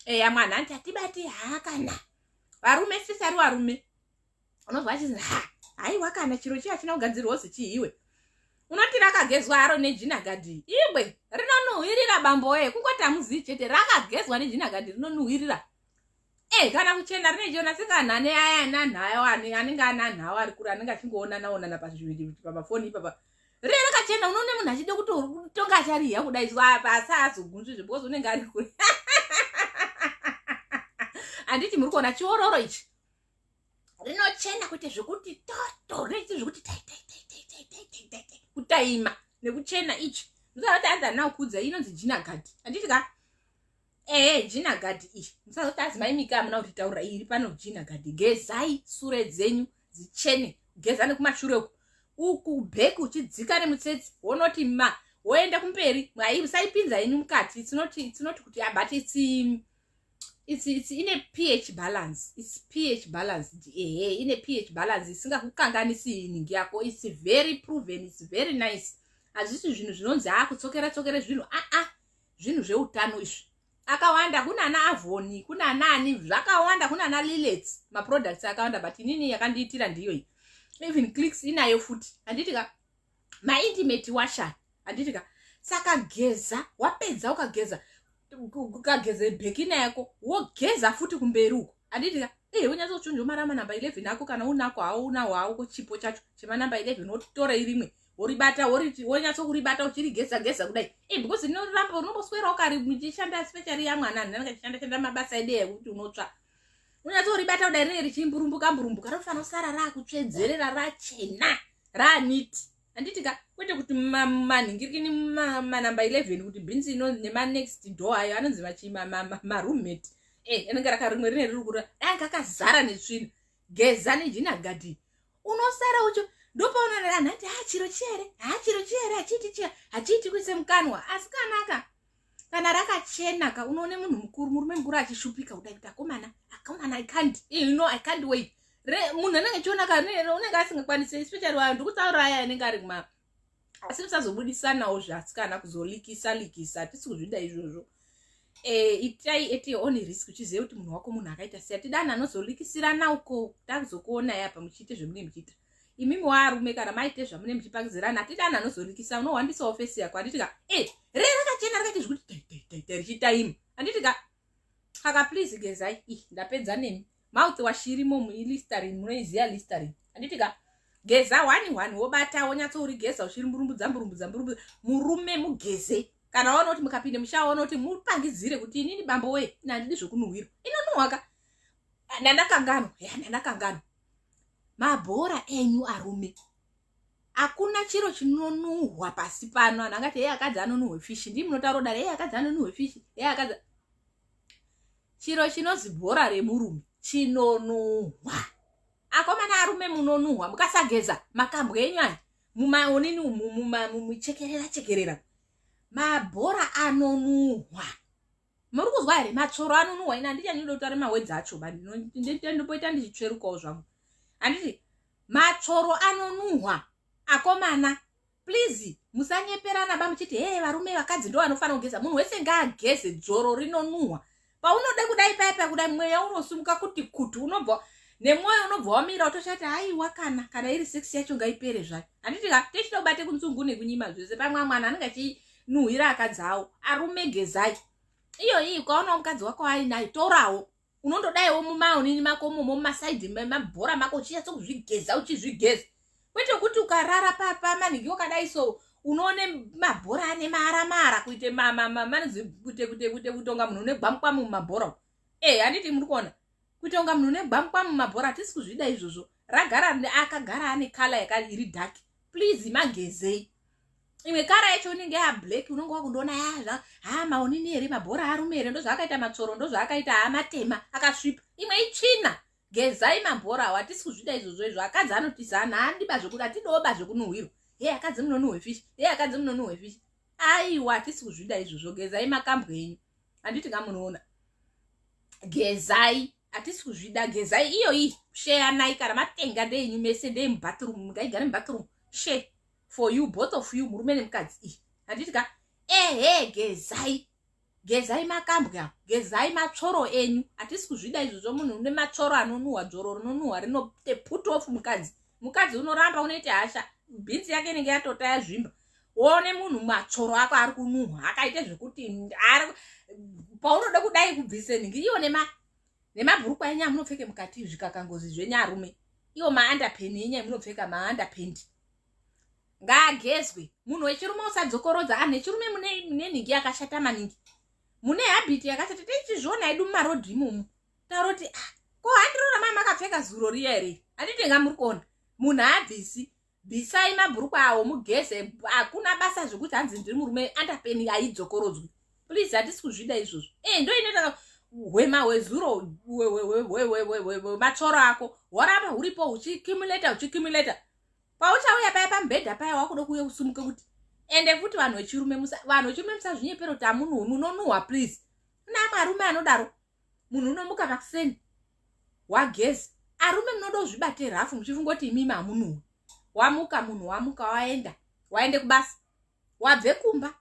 eya mwana hanti hatibati haakana varume sisari varume unonzwa achizi ha haiwa kana chiro chiya china kugadzirwa ozi chiiwe unoti rakagezwa haro nejinagadhi ibwe rinonuhwirira bamboye kungoti hamuzii chete rakagezwa nejinagadhi rinonuhwirira e kana kuchena rine chiona sikana ane aya ananhayo anenge ananhawo ari kure anenge achingoonanaonana pazviviri pamafoni ipapa riye rakachena unoone munhu achida kuti uri kutonga achariya kudai zuva apa asi azogunzvi zve because unenge ari kure handiti muri kuona chiororo ichi rinochena kuita zvekuti toto rinoita zvekuti taitaitaitaitaitaita kutaima nekuchena ichi musazoti adza nawo kuudza inonzi jina gadhi handiti ka ehe jina gadhi iyi musazoti adzi maimika amuna kuti taura iri pano jina gadhi gezai sure dzenyu dzichene geza nekumashure uku uku bheki uchidzika nemutsetse wonoti ma woenda kumberi mwai musaipinza yenyu mukati tsinoti tsinoti kuti abate tsi it's, it's in a ph balance it's ph balance ehe in a ph balance isingakukanganisi iningi yako it's very proven it's very nice hazvisi zvinhu zvinonzi haa kutsokera tsokere zvinhu aa ah, ah, zvinhu zveutano izvi akawanda kunana avoni kunanaani zvakawanda kunana lilets maproducts akawanda but inini yakandiitira ndiyoyi even clicks inayo futi handiti ka maintimate washan handiti ka saka geza wapedza ukageza ukageza bhekina yako wogeza futi kumberi uko handiti ka ee eh, unyatsochunja umara manamba 11 ako kana unako hawo unawo hawo ko chipo chacho chemanamba 11 wotora irimwe woribata wonyatsokuribata uchirigeza geza kudai e eh, because rinoramba unomboswera ukari muchishanda specially yamwana ndanakachishanda shanda mabasa edeya kuti unotsva unyatoribata kudai rinenge richimburumbuka mburumbuka rinofanira kusara raakutsvedzerera rachena raaniti handiti ka kwete kuti manhingirikini manumber 11 kuti bhinzi ino nemanext door ayo anonzi maroommate eh, anenge rakarimwe rine riri kura dai kakazara netsvina geza nejina gadhi unosara ucho ndopaonana anhu ati hachiro ah, chiyere hachiro ah, chiyere hachiiti chiya hachiiti kuise mukanwa asi kanaka kana rakachena ka unoone munhu mukuru murume mukuru achishupika kudai kuti akomana akomana i can't eh, you know i can't wait munhu anenge achiona ka unenge asingakwanisi especially vanhu ndikutaura aya anenge ari kuma asi tisazobudisanawo zvasikana kuzolikisa likisa tisi kuzvida izvozvo eh, itai at your own risk uchiziva kuti munhu wako munhu akaita siya tidani anozolikisirana uko takuzokuonai apa muchiite zvemunenge muchiita imimi waarume kana maite zvamune muchipangidzirana hatidi anhu anozorikisa unohwandisawo fesi yako handiti ka e eh, re rakachena rakaita zvekuti richitaima handiti ka aka please gezai i ndapedza nemi mouth washirimo muilisterin munoiziva listerin handiti ka geza wani wani wobata wonyatso uri geza ushiri mburumbudza mburumbudza mburumbudza murume mugeze kana waona kuti mukapinde mushaa waona kuti mupangidzire kuti inini bambo wee ina handidi zvokunuhwirwa inonuhwaka ndandakanganwa ya ndandakanganwa mabhora enyu arume hakuna chiro chinonuhwa pasi pano anhu angati hei akadzi anonuhwe fishi ndii munotaura kudari hei akadzi anonuhwe fishi hei akadzi chiro chinozi bhora remurume chinonuhwa akomana arume munonuhwa mukasageza makambwa enyu aya mumaonini muchekerera chekerera mabhora anonuhwa muri kuzwa here matsvoro anonuhwa ini handiti andinoda kutare mawedzi acho ba ndinondipoita ndichitsverukawo zvangu handiti matsvoro anonuhwa akomana please musanyeperana ba muchiti hee varume vakadzi ndo vanofanira kugeza munhu wese ngaageze dzoro rinonuhwa paunode kudai paya paya kudai mweya unosumuka kuti kuti unobva nemwoyo unobva wamira watoshati haiwa kana kana iri sex yacho ngaipere zvayo handiti ka techida kubate kunzungu nekunyima zvese pamwe amwana anenge achii nuhwira akadzi awo arume gezai iyo iyi ukaonawo mukadzi wako ainayo torawo unondodaiwo mumaonini mako momo mumasaidhi mabhora mako uchinyatso kuzvigeza uchizvigeza kwete kuti ukarara pamanhingi wakadai so unoone mabhora ane maara maara kuite manonzi kuite kuite kuite kuite kunga munhu une gwamukwamu mumabhora e handiti muri kuona kuite kunga munhu une gwamukwamu mumabhora hatisi kuzvida izvozvo ragara rine akagara ane kala yaka iri dark please magezei imwe kara yacho unenge ya black unonge wakundiona yazva ah, ha maonini here mabhora arume here ndozvaakaita matsoro ndozvaakaita ha matema akasvipa imwe itsvina gezai mabhora awo hatisi kuzvida izvozvo izvo akadzi anotizana handiba zvekuda atidoba zvekunuhwirwa he akadzi munonuhwe fish he akadzi munonuhwe fish aiwa hatisi kuzvida izvozvo gezai makambwe enyu handiti kamunoona gezai hatisi kuzvida gezai iyoyi sheyanai kana matenga ndeenyu mese ndeye mubathroom mungaigare mubathroom she for you both of you murume nemukadzi iyi handiti ka ehe gezai gezai makambwe apo gezai matsvoro enyu hatisi kuzvida izvozvo munhu une matsvoro anonuhwa dzvoro rinonuhwa rinote put off mukadzi mukadzi unoramba unoita hasha bhinzi yake inenge yatota yazvimba one munhu matsvoro ako ari kunuhwa akaite zvekuti ari paunoda kudai kubvise nhingi iyo nema nemabhurukwa enyu amunopfeke mukati zvikakangozi zvenyu arume iwo maandapeni enyu amunopfeka maandapendi ngaagezwe munhu wechirume usadzokorodza anhu ah, echirume mune nhingi yakashata maningi mune habiti yakashata tichizviona edu mumarodhi imomo taroti ah, ko handirona maa makapfeka zuro riya here handitenga muri kuona munhu haabvisi bvisai mabhurukwa awo mugeze hakuna basa zvekuti hanzi ndiri murume andapeni aidzokorodzwi please hatisi kuzvida izvozvo e ndoinoita hwema hwezuro matsvoro ako hworamba huripo huchikimuleta huchikimuleta pauchauya paya pamubhedha paya wakuda kuuya kusumuka kuti ende futi vanhu vechirume vanhu vechirume musazvinyepero kuti amununhu unonuhwa please naamwe arume anodaro munhu unomuka makuseni wagezi arume munoda kuzvibate rafu muchifunga kuti imimi hamunuwe wamuka munhu wamuka waenda waende kubasa wabve kumba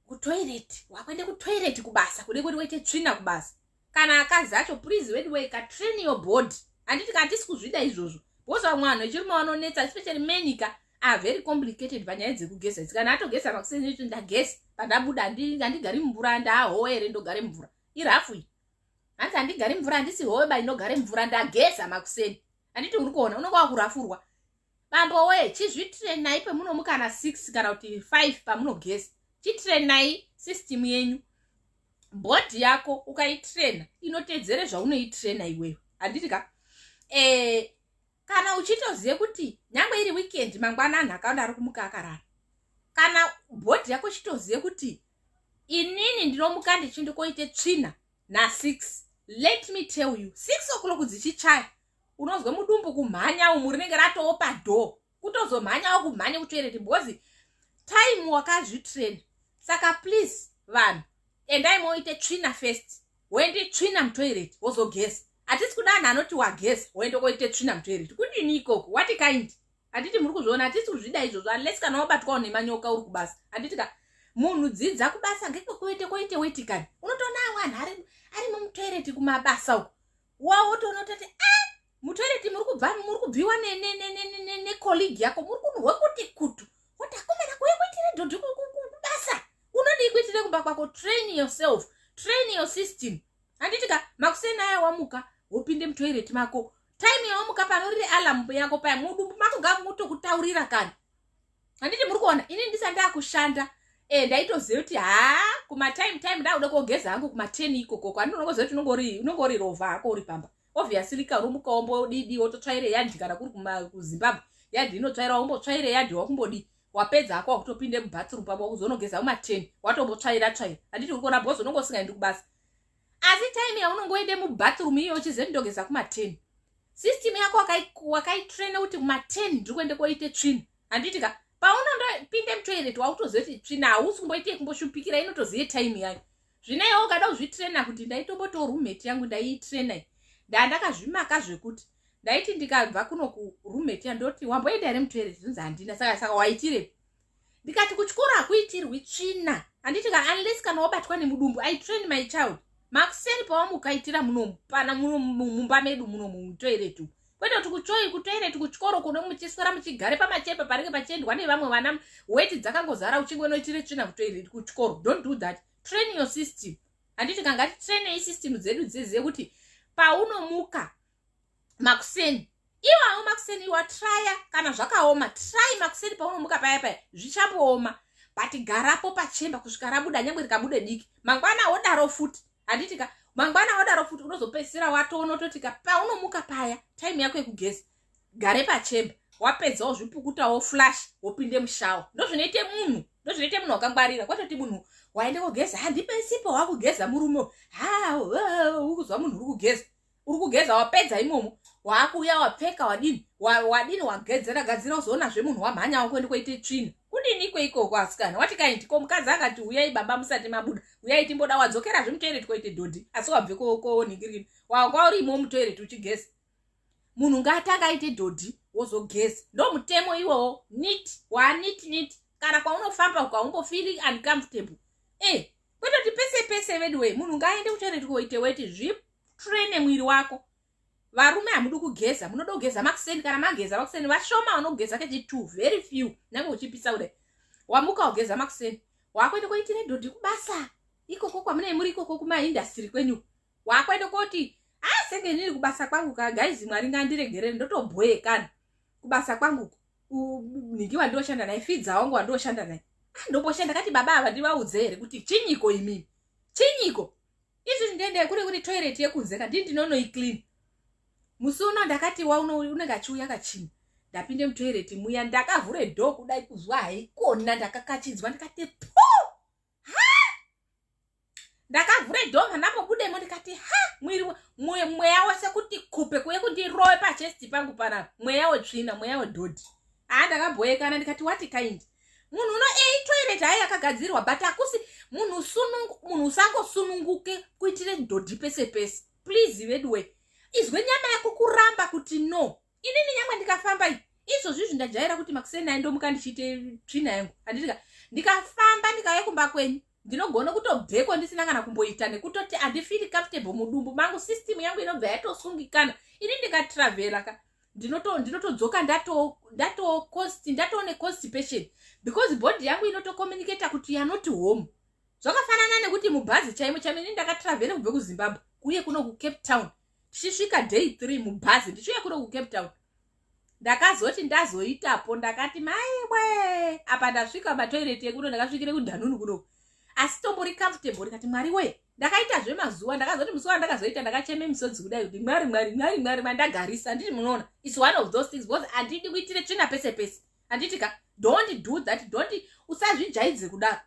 kutoilet wakuende kutoilet kubasa kude kuti waite tsvina kubasa kana akadzi acho please weduway ka train your body handiti katisi kuzvida izvozvo bhozi vamwe vanhu echirume vanonetsa especially menika are very complicated panyaya dzekugeza idzi kana atogeza makuseni icho ndageza pandabuda handigari mumvura ndahowe here ndogare mumvura irafu iyi hanzi handigari mumvura handisi howe ba inogare mumvura ndageza makuseni handiti uri kuona unonga wakurafurwa bambo wee chizvitirenai pemunomu kana six kana kuti five pamunogeza chitirenai system yenyu bhodhi yako ukaitrena inoteedzere zvaunoitrena iweyo handiti ka eh, kana uchitoziva kuti nyange iri weekend mangwana anhu akawanda ari kumuka akarara kana bhodhi yako chitoziva kuti inini ndinomuka ndichindikoite tsvina nasix let me tell you six o'clock dzichichaya unonzwa mudumbu kumhanya umu rinenge ratowo padoo kutozomhanyawo kumhanya kutoereti bhozi time wakazvitrain saka please vanhu endai moite tsvina first woende tsvina mutoilet wozogeza hatisi kuda anhu anoti wageza woende koite tsvina mutoilet kudini ikoko wati kind handiti muri kuzviona hatisi kuzvida izvozvo unless kana wabatwawo nemanyoka uri kubasa handiti ka munhu dzidza kubasa ngekwekuite koite wetikani unotoona awo anhu ari ari mumutoireti kumabasa uku wawotoona utoti a ah, mutoilet muri kubva muri kubviwa necolleague yako muri kunhuhwa kuti kutu kuti akomana kuuya kuitire dhodhi kubasa unodii kuitire kumba kwako train yourself train your system handiti ka makuseni aya wamuka wopinde mutoilet mako time yawamuka pano riri alarm yako paya mudumbu mako ngamutokutaurira kana handiti muri kuona ini ndisa ndakushanda e ndaitoziva kuti ha kumatime time ndakuda kogeza hangu kuma ten ikokoko andinonokoziva kuti unongori rovha ako uri pamba obviously karumuka wombodidi wototsvaire yadhi kana kuri kuzimbabwe yadhi inotsvaira wombotsvaire yadhi wakumbodii wapedza hako wakutopinde mubathroom pavo wakuzonogeza umateni watombotsvaira tsvaira handiti uri kuona bhozi unonge usingaendi kubasa asi time yaunongoende mubathroom iyo uchize ndogeza kumateni system yako wakaitraina kuti kumateni ndiri kuende koite tsvina handiti ka paunondopinde mutoilet wakutozive kuti tsvina hausi kumboite kumboshupikira inotozive time yayo zvino iwe ukada kuzvitraina kuti ndaitombotiwo roommate yangu ndaiitraina iyi ndaa ndakazvimaka zvekuti ndaiti ndikabva kuno kuroommate ya ndoti wamboenda here mutoilet zvinzi handina saka saka waitirepi ndikati kuchikoro hakuitirwi tsvina handiti ka unless kana wabatwa nemudumbu i train my child makuseni pawamukaitira munomu pana mumba medu munomu mutoiretu kwete kuti kuchoi kutoireti kuchikoro kuno muchiswera muchigare pamachepe paringe pachiendwa nevamwe vana weti dzakangozara uchinge unoitire tsvina kutoireti kuchikoro don't do that train your system handiti kanga titrainei system dzedu dzezive kuti paunomuka makuseni iwawo makuseni iwa traya kana zvakaoma try makuseni paunomuka paya paya zvichambooma but garapo pachemba kusvika rabuda nyangwe rikabude diki mangwana wodaro futi handiti ka mangwana wadaro futi unozopedzisira watoona ototi ka paunomuka paya time yako yekugeza gare pachemba wapedza wozvipukuta woflash wopinde mushawa ndozvinoite munhu ndozvinoite munhu wakangwarira kwatoti munhu waende kogeza handipesipo wakugeza murume ha ukuzwa munhu uri kugeza uri kugeza wapedza imomo waakuuya wapfeka wadini wadini wagedzera gadzira uzoona zve munhu wamhanya wako ndi koite tsvina kudini ko ikoko asikana wati kaindi ko mukadzi akati uyai baba musati mabuda uyai timboda wadzokera zve mutoireti koite dhodhi asi wabve koonhingiriri wakwa urimo mutoireti uchigeza munhu ngaatanga aite dhodhi wozogeza ndo mutemo iwowo nit waanit nit kana kwaunofamba ukaumbo feeling uncomfortable e eh, kwetoti pese pese veduwee munhu ngaaende kutoireti koite weti zvip traine mwiri wako varume hamudi kugeza munoda kugeza makuseni kana mageza makuseni vashoma vanogeza kechi two very few nange uchipisa kudai wamuka wageza makuseni wakuenda koiti nedhodhi kubasa ikoko kwamunei muri ikoko kumaindastiri kwenyu wakuenda koti a ah, senge inini kubasa kwangu ka gaizi mwari ngandiregerere ndotobhoye kani kubasa kwangu nhingi wandioshanda naye fidza wangu wandioshanda naye ah, ndomboshanda kati baba ava ndivaudze here kuti chinyiko imimi chinyiko izvi ndende kuri kuti toilet yekunze ka ndini ndinonoiclean musi uno ndakati waunenge achiuya kachini ndapinde mutoireti muya ndakavhure dho kudai kuzwa haikona ndakakachidzwa ndikati po ha ndakavhure dho manapobudemo ndikati ha mwiri mweya wese kuti kupe kuye kundirowe pachesti pangu pana mweya wetsvina mweya wedhodhi haa ndakaboyekana ndikati wati kaindi munhu uno ei toilet hayi yakagadzirwa but akusi munhu munhu usangosununguke kuitire dhodhi pese pese please veduwe izwe nyama yako kuramba kuti no inini nyangwe ndikafamba i izvozvi izvi ndajaira kuti makuseni ayi ndomuka ndichiite tsvina yangu handitika ndikafamba ndikauye kumba kwenyu ndinogona kutobveko ndisina kana kumboita nekutoti andifiri comfortable mudumbu mangu system yangu inobva yatosungikana ini ndikatravela ka ndinotodzoka ndatocost ndatoo neconstipation because body yangu inotocommunicata kuti yanoti home zvakafanana nekuti mubhazi chaimo chaimo ini ndakatravela kubve kuzimbabwe kuye kuno kucape town tichisvika day three mubhazi ndichiuya kuno kucape town ndakazoti ndazoitapo ndakati maiwe apa ndasvika matoireti ekuno ndakasvikire kudhanunu kuno asi tombori comfortable ndikati mwari we ndakaita zvemazuva ndakazoti musi wandakazoita ndakacheme misodzi kudai kuti mwari mwari mwari mwari mandagarisa anditi munoona its one of those things because andidi kuitire tsvina pese pese anditi ka don't do that don't usazvijaidze kudaro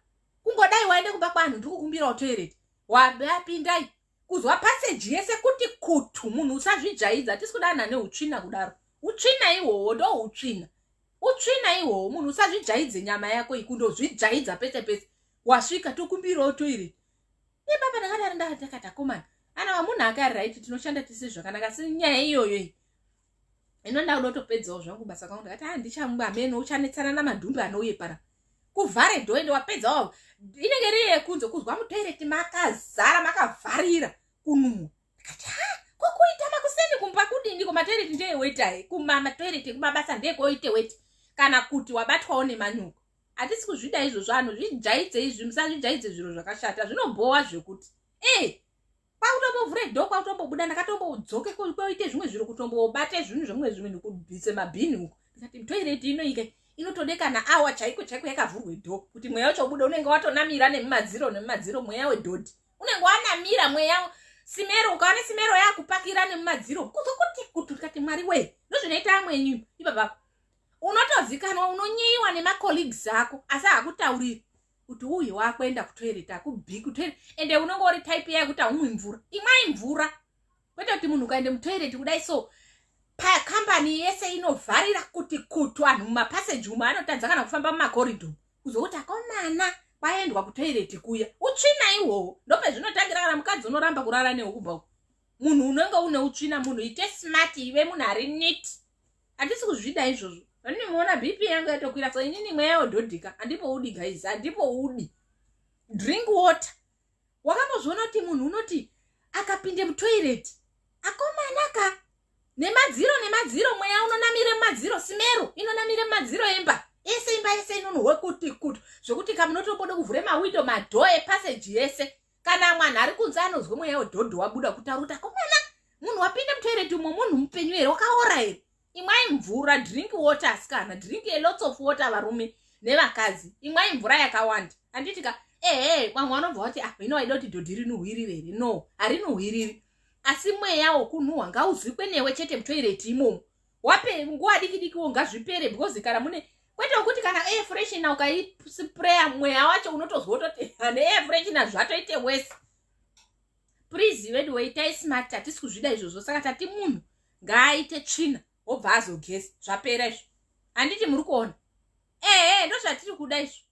kungodai waende kumba kwanhu ndikukumbirawo toireti wapindai kuzwa passage yese kuti kutu munhu usazvijaidza tisi kuda anhu ane utsvina kudaro utsvina ihwohwo ndo utsvina utsvina ihwohwo munhu usazvijaidze nyama yako ikundozvijaidza pese pese wasvika tokumbirawo toire ibaba ndakadari ndakatakomana ana vamunhu akari right tinoshanda tisi zvakanaka si nyaya iyoyo iyi ino ndakuda kutopedzawo zvangu basa kwangu ndakati ha ah, ndichamwe ameno uchanetsana namadhumbi anouye para kuvhare dho ende wapedzawo inenge iri yekunze kuzwa mutoireti makazara makavharira kunumwa ndikati ha ah, kokuita makuseni kumba kudini kumatoireti ndeyewetae kumamatoireti kumabasa ndekoite weti kana kuti wabatwawo nemanyuko hatisi kuzvida izvozvo anhu zvijaidze izvi musazvijaidze zviro zvakashata zvinobhowa zvekuti e kwakutombovhure door kwakutombobuda ndakatombodzoke koite zvimwe zviro kutombobate zvinhu zvemumwe zvimwe ndikubvise mabhini uko ndikati toilet inoike inotode kana awa chaiko chaiko yakavhurwe door kuti mweya wacho ubuda unenge watonamira nemumadziro nemumadziro mweya wedhodhi unenge wanamira mweya simero ukaone simero yakupakira nemumadziro kuzokuti kuti ndikati mwari wee ndozvinoita amwenyu ipapapo unotozikanwa unonyiyiwa nemacolleagues ako asi hakutauriri kuti uyu wakuenda kutoilet akubi kutoilet ende unonge uri type iya yekuti haumwi mvura imwai mvura kwete kuti munhu ukaende mutoilet kudai so pakambani yese inovharira kuti kutu vanhu mumapassage umo anotadza kana kufamba mumakoridho kuzokuti akomana kwaendwa kutoireti kuya utsvina ihwohwo ndopezvinotangira kana mukadzi unoramba kurara nehukuba munhu unenge une utsvina munhu ite smart ive munhu ari nit handisi kuzvida izvozvo vandimuona bp yangu yatokwira so inini mweya yodhodhika handipoudi guys handipoudi drink water wakambozviona kuti munhu unoti akapinde mutoireti akomanaka nemadziro nemadziro mweya unonamire mumadziro simero inonamire mumadziro emba ese imba yese inonohwe kuti kutu zvekuti kamunotombode kuvhure mawindo madhoo epaseji yese kana mwana ari kunze anonzwa mweya wedhodho wabuda kutaruta komana munhu wapinda mutoireti umwe munhu mupenyu here wakaora here imwai mvura drink water asikana drink a lots of water varume nevakadzi imwai mvura yakawanda anditika ehe vamwe vanobva vati ah ino waida kuti dhodhi rinuhwirire here no harinuhwiriri asi mweya wokunhuhwa ngauzwikwe newe chete mutoireti imomo wape nguwa diki diki wo ngazvipere because kana mune kwete wekuti kana air freshener ukaispray mweya wacho unotozwa utoti ane air freshener zvatoite worse please veduwe itai smart hatisi kuzvida izvozvo saka tati munhu ngaaite tsvina obva azogeza zvapera izvo handiti muri kuona ehe ndozvatiri kuda izvo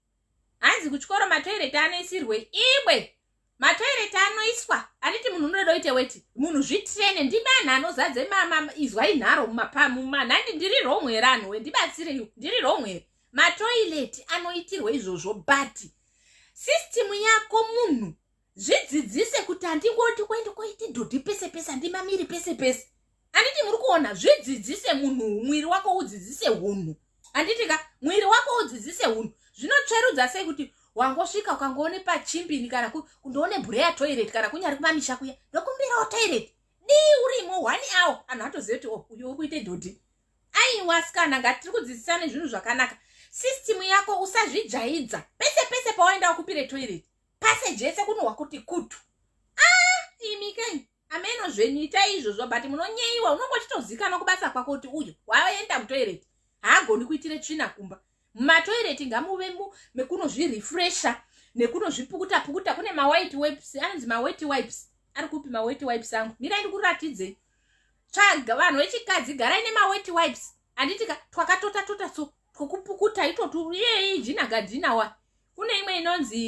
hanzi kuchikoro matoireti anoisirwe iwe matoireti anoiswa anditi munhu unoda uite weti munhu zvitrene ndimi anhu anozadze mama izwai nharo mumanhandi ndiri wrong here anhu we ndibatsireyo ndiri wrong here matoireti anoitirwe izvozvo but system yako munhu zvidzidzise kuti handingoti kuende koiti dhodhi pese pese handimamiri pese pese handiti muri kuona zvidzidzise munhu mwiri wako udzidzise hunhu handiti ka mwiri wako udzidzise hunhu zvinotsverudza sei kuti wangosvika ukangoone pachimbini kana kundoone bhure yatoireti kana kunyari kumamisha kuya ndokumbirawo toireti dii urimo one awo anhu atoziva kuti oh, uyo uri kuite dhodhi aiwa sikana ngatiri kudzidzisane zvinhu zvakanaka system yako usazvijaidza pese pese pawaenda wakupire toireti pase jese kunohwa kuti kutu ah imi kai ameno zvenyu itai izvozvo but munonyeyiwa unongo chitozikanwa kubasa kwako kuti uyu waenda mutoireti haagoni kuitire tsvina kumba mumatoireti ngamuve mu mekunozvirefresha nekunozvipukuta pukuta kune mawhite wipes anonzi mawhite wipes ari kupi mawhite wipes angu mirai ndikuratidzei tsvaga vanhu vechikadzi garai nemawhite wipes handitika twakatota tota so kukupukuta itoti iyei jina gadinawa kune imwe inonzi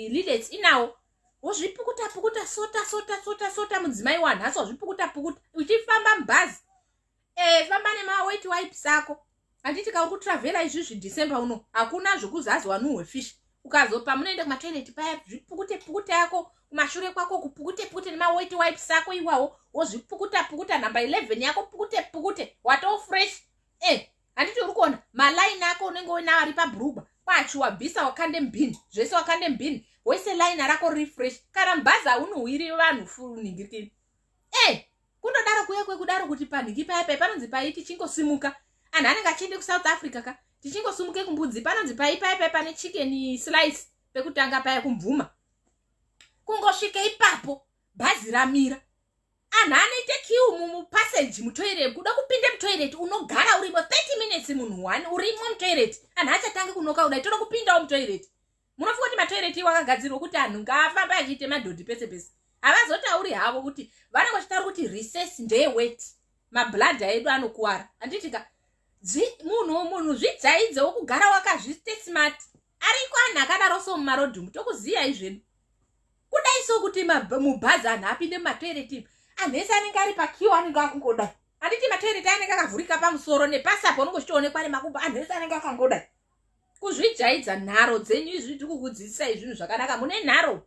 lilets inawo wozvipukuta pukuta sota sota sota sota mudzimai wanhasi wazvipukuta pukuta uchifamba mubhazi e, famba nemaweti wipes ako handiti ka uri kutravhera izvizvi december uno hakuna zvekuzazi wanuhwe fish ukazopa munoenda kumatoireti paya zvipukute pukute yako kumashure kwako kupukute pukute nemaweti wipes ako iwawo wozvipukuta pukuta number 11 yako pukute pukute watofresh e eh, handiti uri kuona malaini ako unenge uinawo ari pabrugwa kwacho wabvisa wakande mbini zvese wakande mbini wese laina rako riri fresh kana mubhazi haunohwiri vanhu funingirikini e eh, kundodaro kuye kwekudaro kuti panhingi paya pai panonzi pai tichingosimuka anhu anenge achiende kusouth africa ka tichingosimuke kumbudzi panonzi pai paya pai pane chicken slice pekutanga paya kumvuma kungosvike ipapo bhazi ramira anhu anoite kiu mumupassage mutoiret kuda kupinde mutoiret unogara urimo 30 minutes munhu one urimo mutoiret anhu achatange kunoka kudai toda kupindawo mutoiret munofunga kuti matoiret iwo akagadzirwa kuti anhu ngaafambe achiite madhodhi pese pese havazotauri havo kuti vanenge vachitaura kuti reses ndeye wet mabladha edu anokuwara handitika munhu munhu zvidzaidze wokugara wakazviste smart ariko anhu akadaro so mumarodhi umu tokuziyai zvedu kudai so kuti mubhazi anhu apinde mumatoiretimu anhu ese anenge ari pakiwa anenge akungodai handiti matoireti anenge akavhurika pamusoro nepasapo unenge uchitoonekwa nemakumbo anhu ese anenge akangodai kuzvijaidza nharo dzenyu izvi tiri kukudzidzisai zvinhu zvakanaka mune nharo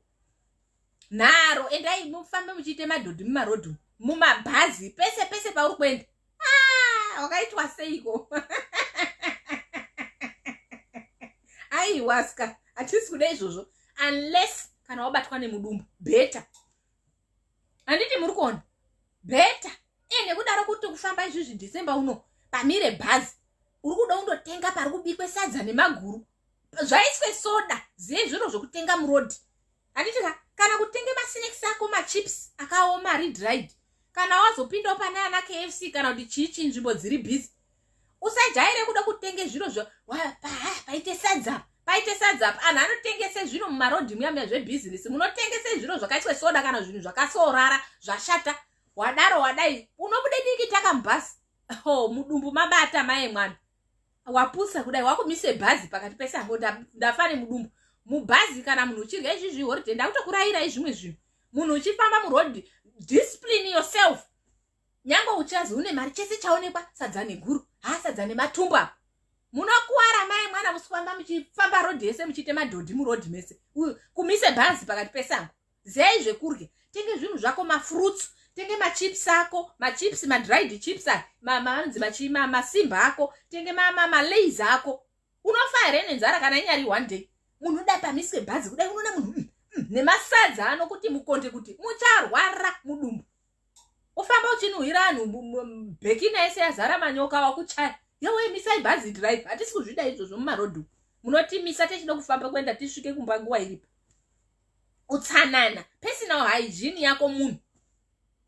nharo endai mufambe muchiite madhodhi mumarodhu mumabhazi pese pese pauri kuenda ah, wakaitwa seiko aiwaska hatisi kuda izvozvo unless kana wabatwa nemudumbu beta handiti muri kuona beta e nekudaro kuti kufamba izvizvi december uno pamire bhazi uri kuda undotenga pari kubikwe sadza nemaguru zvaiswe soda ziye zviro zvokutenga muroad handiti ka kana kutenge masnacks ako machips akaoma ari dried kana wazopindawo pane ana kfc kana kuti chii chii nzvimbo dziri busy usajaire kuda kutenge zviro zvo paite sadza paite sadza anhu anotengese zvino mumarodhi muya muya zvebhizinesi munotengese zviro zvakaitwe soda kana zvinhu zvakasorara zvashata wadaro wadai unobude diki takamubhasi ho mudumbu mabata maye mwana wapusa kudai wakumise bhazi pakati pesango ndafa nemudumbu mubhazi kana munhu uchirya izvi zvihoride ndakutokurayirai zvimwe zvinhu munhu uchifamba muroad discipline yourself nyange uchazi une mari chese chaonekwa sadza neguru haa sadza nematumbu apo munokuwara mai mwana musifamba muchifamba road yese muchiite madhodhi muroad mese kumise bhazi pakati pesango ziyai zvekurya tenge zvinhu zvako mafruits tenge machips ako machips madried chips anonzi machi masimba ako tenge malays ako unofa here nenzara kana inyari one day munhu uda pamiswe bhazi kudai unoona munhu mm, mm, nemasadza anokuti mukonde kuti mucharwara mudumbu ufamba uchinhuhira anhu bhekina yese yazara manyoka wakuchaya yowe misai bhazi drive hatisi kuzvida izvozvo mumarodhu munotimisa techida kufamba kuenda tisvike kumba nguva iripo utsanana personal hygiene yako munhu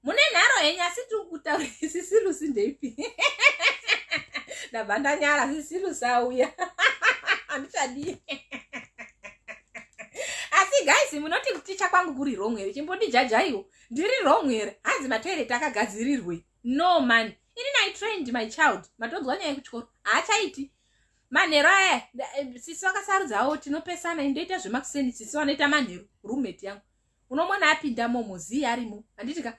mune nharo henyu asi tiri kutaura sisirusi ndeipi ndabva ndanyara sisirusi auya handichadii asi guys munoti kuticha kwangu kuri wrong here chimbondijajaiwo ndiri wrong here hanzi matoilet akagadzirirwei no man ini nai trained my child matonzwa nyaya yekuchikoro haachaiti manheru aya eh, sisi vakasarudzawo tinopesana indoita zvemakuseni sisi vanoita manheru roommate yangu unomona apinda momo zii arimo handiti ka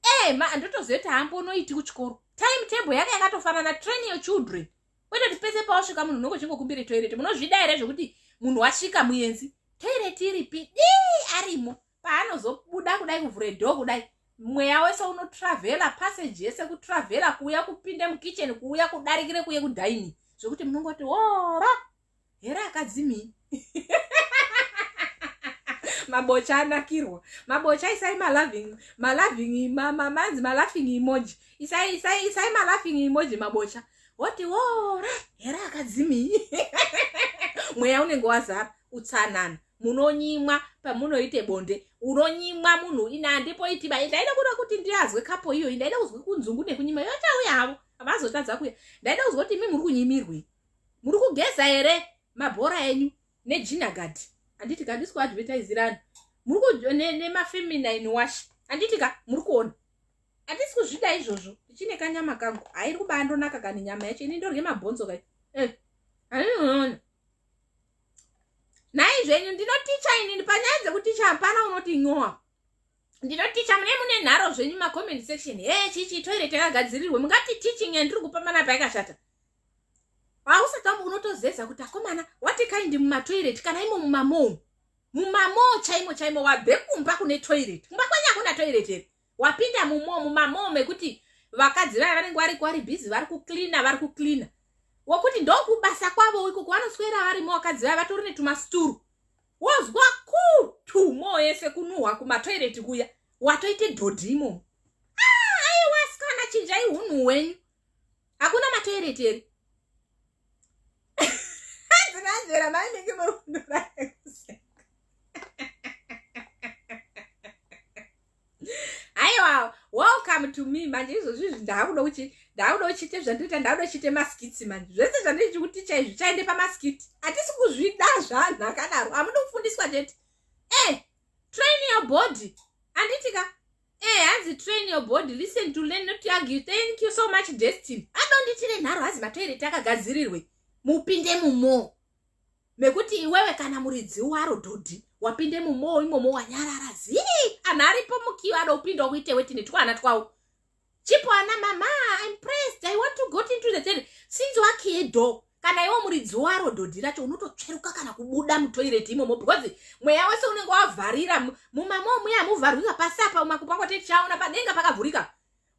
e eh, ndotozoita hambo unoiti kuchikoro time table yanga yakatofanana train your children kwete kuti pese pawasvika munhu unongo chingokumbire toilet munozvida here zvekuti munhu wasvika muyenzi toilet iripi dii arimo paanozobuda kudai kuvhure dho kudai mweya wese unotravhela passage yese kutravhela kuuya kupinde mukitchen kuuya kudarikire kuye kudaini zvekuti munongoti ora here akadzimii mabocha anakirwa mabocha isai maloving maloving manzi malaughing emoji isai isai isai malaughing emoji mabocha woti wora here akadzimii mweya unenge wazara utsanana munonyimwa pamunoite bonde unonyimwa munhu ina handipo itiba ndaida kuda kuti ndiazwe kapo iyoyi ndaida kuzwa kunzungu nekunyima iyo chauya havo havazotadza kuya ndaida kuzwa kuti imi muri kunyimirwei muri kugeza here mabhora enyu nejinagadi handiti ka ndisi kuadvertisirani muri nemafeminine wash handiti ka muri kuona handisi kuzvida izvozvo ndichine kanyama kangu hairi kubaa ndonaka kani nyama yacho ini ndorye mabhonzo kai eh, handinoona nhai zvenyu ndinoticha inini panyaya dzekuticha hapana unoti nyowa ndinoticha mune mune nharo zvenyu macomment section he chichi toilet yakagadzirirwe mungati teaching yandiri kupa mana payakashata hausatambo unotozeza kuti akomana wati kaindi mumatoilet kana imo mumamoo mumamoo chaimo chaimo wabve kumba kune toilet kumba kwenyu hakuna toilet here wapinda mumo mumamoo mekuti vakadzi vaya vanenge variko vari bhizi vari kucleana vari kucleana wokuti ndokubasa kwavo ikoko vanoswera varimo vakadzi vaya vatori netumasituru wozwa kutu moo yese kunuhwa kumatoireti kuya watoite dhodhi imomo ah, aiwasikana chinjai hunhu hwenyu hakuna matoireti here ndinanzvera mainenge murundura aiwa welcome to me manje izvozvi izvi ndaakuda kuchi ndaakuda kuchiite zvandiita ndaakuda kuchiite maskiti manje zvese zvandiiti kuti ticha izvi chaende pamaskiti hatisi kuzvida zvanhu akadaro hamudi kufundiswa chete e eh, train your body anditika Eh, hanzi train your body listen to learn not to argue thank you so much destiny adonditire nharo hazi matoireti akagadzirirwe mupinde mumoo mekuti iwewe kana muridzi waro dhodhi wapinde mumoo imomo wanyarara zii anhu aripo mukiyo adopinda kuite wetine twana twawo chipo ana mama im pressed i want to got into the ten since wakiye do kana iwo muridzi waro dhodhi racho unototsveruka kana kubuda mutoireti imomo because mweya wese unenge wavharira mumamo muya muvharwika pasi apa umakupako techaona padenga pakavhurika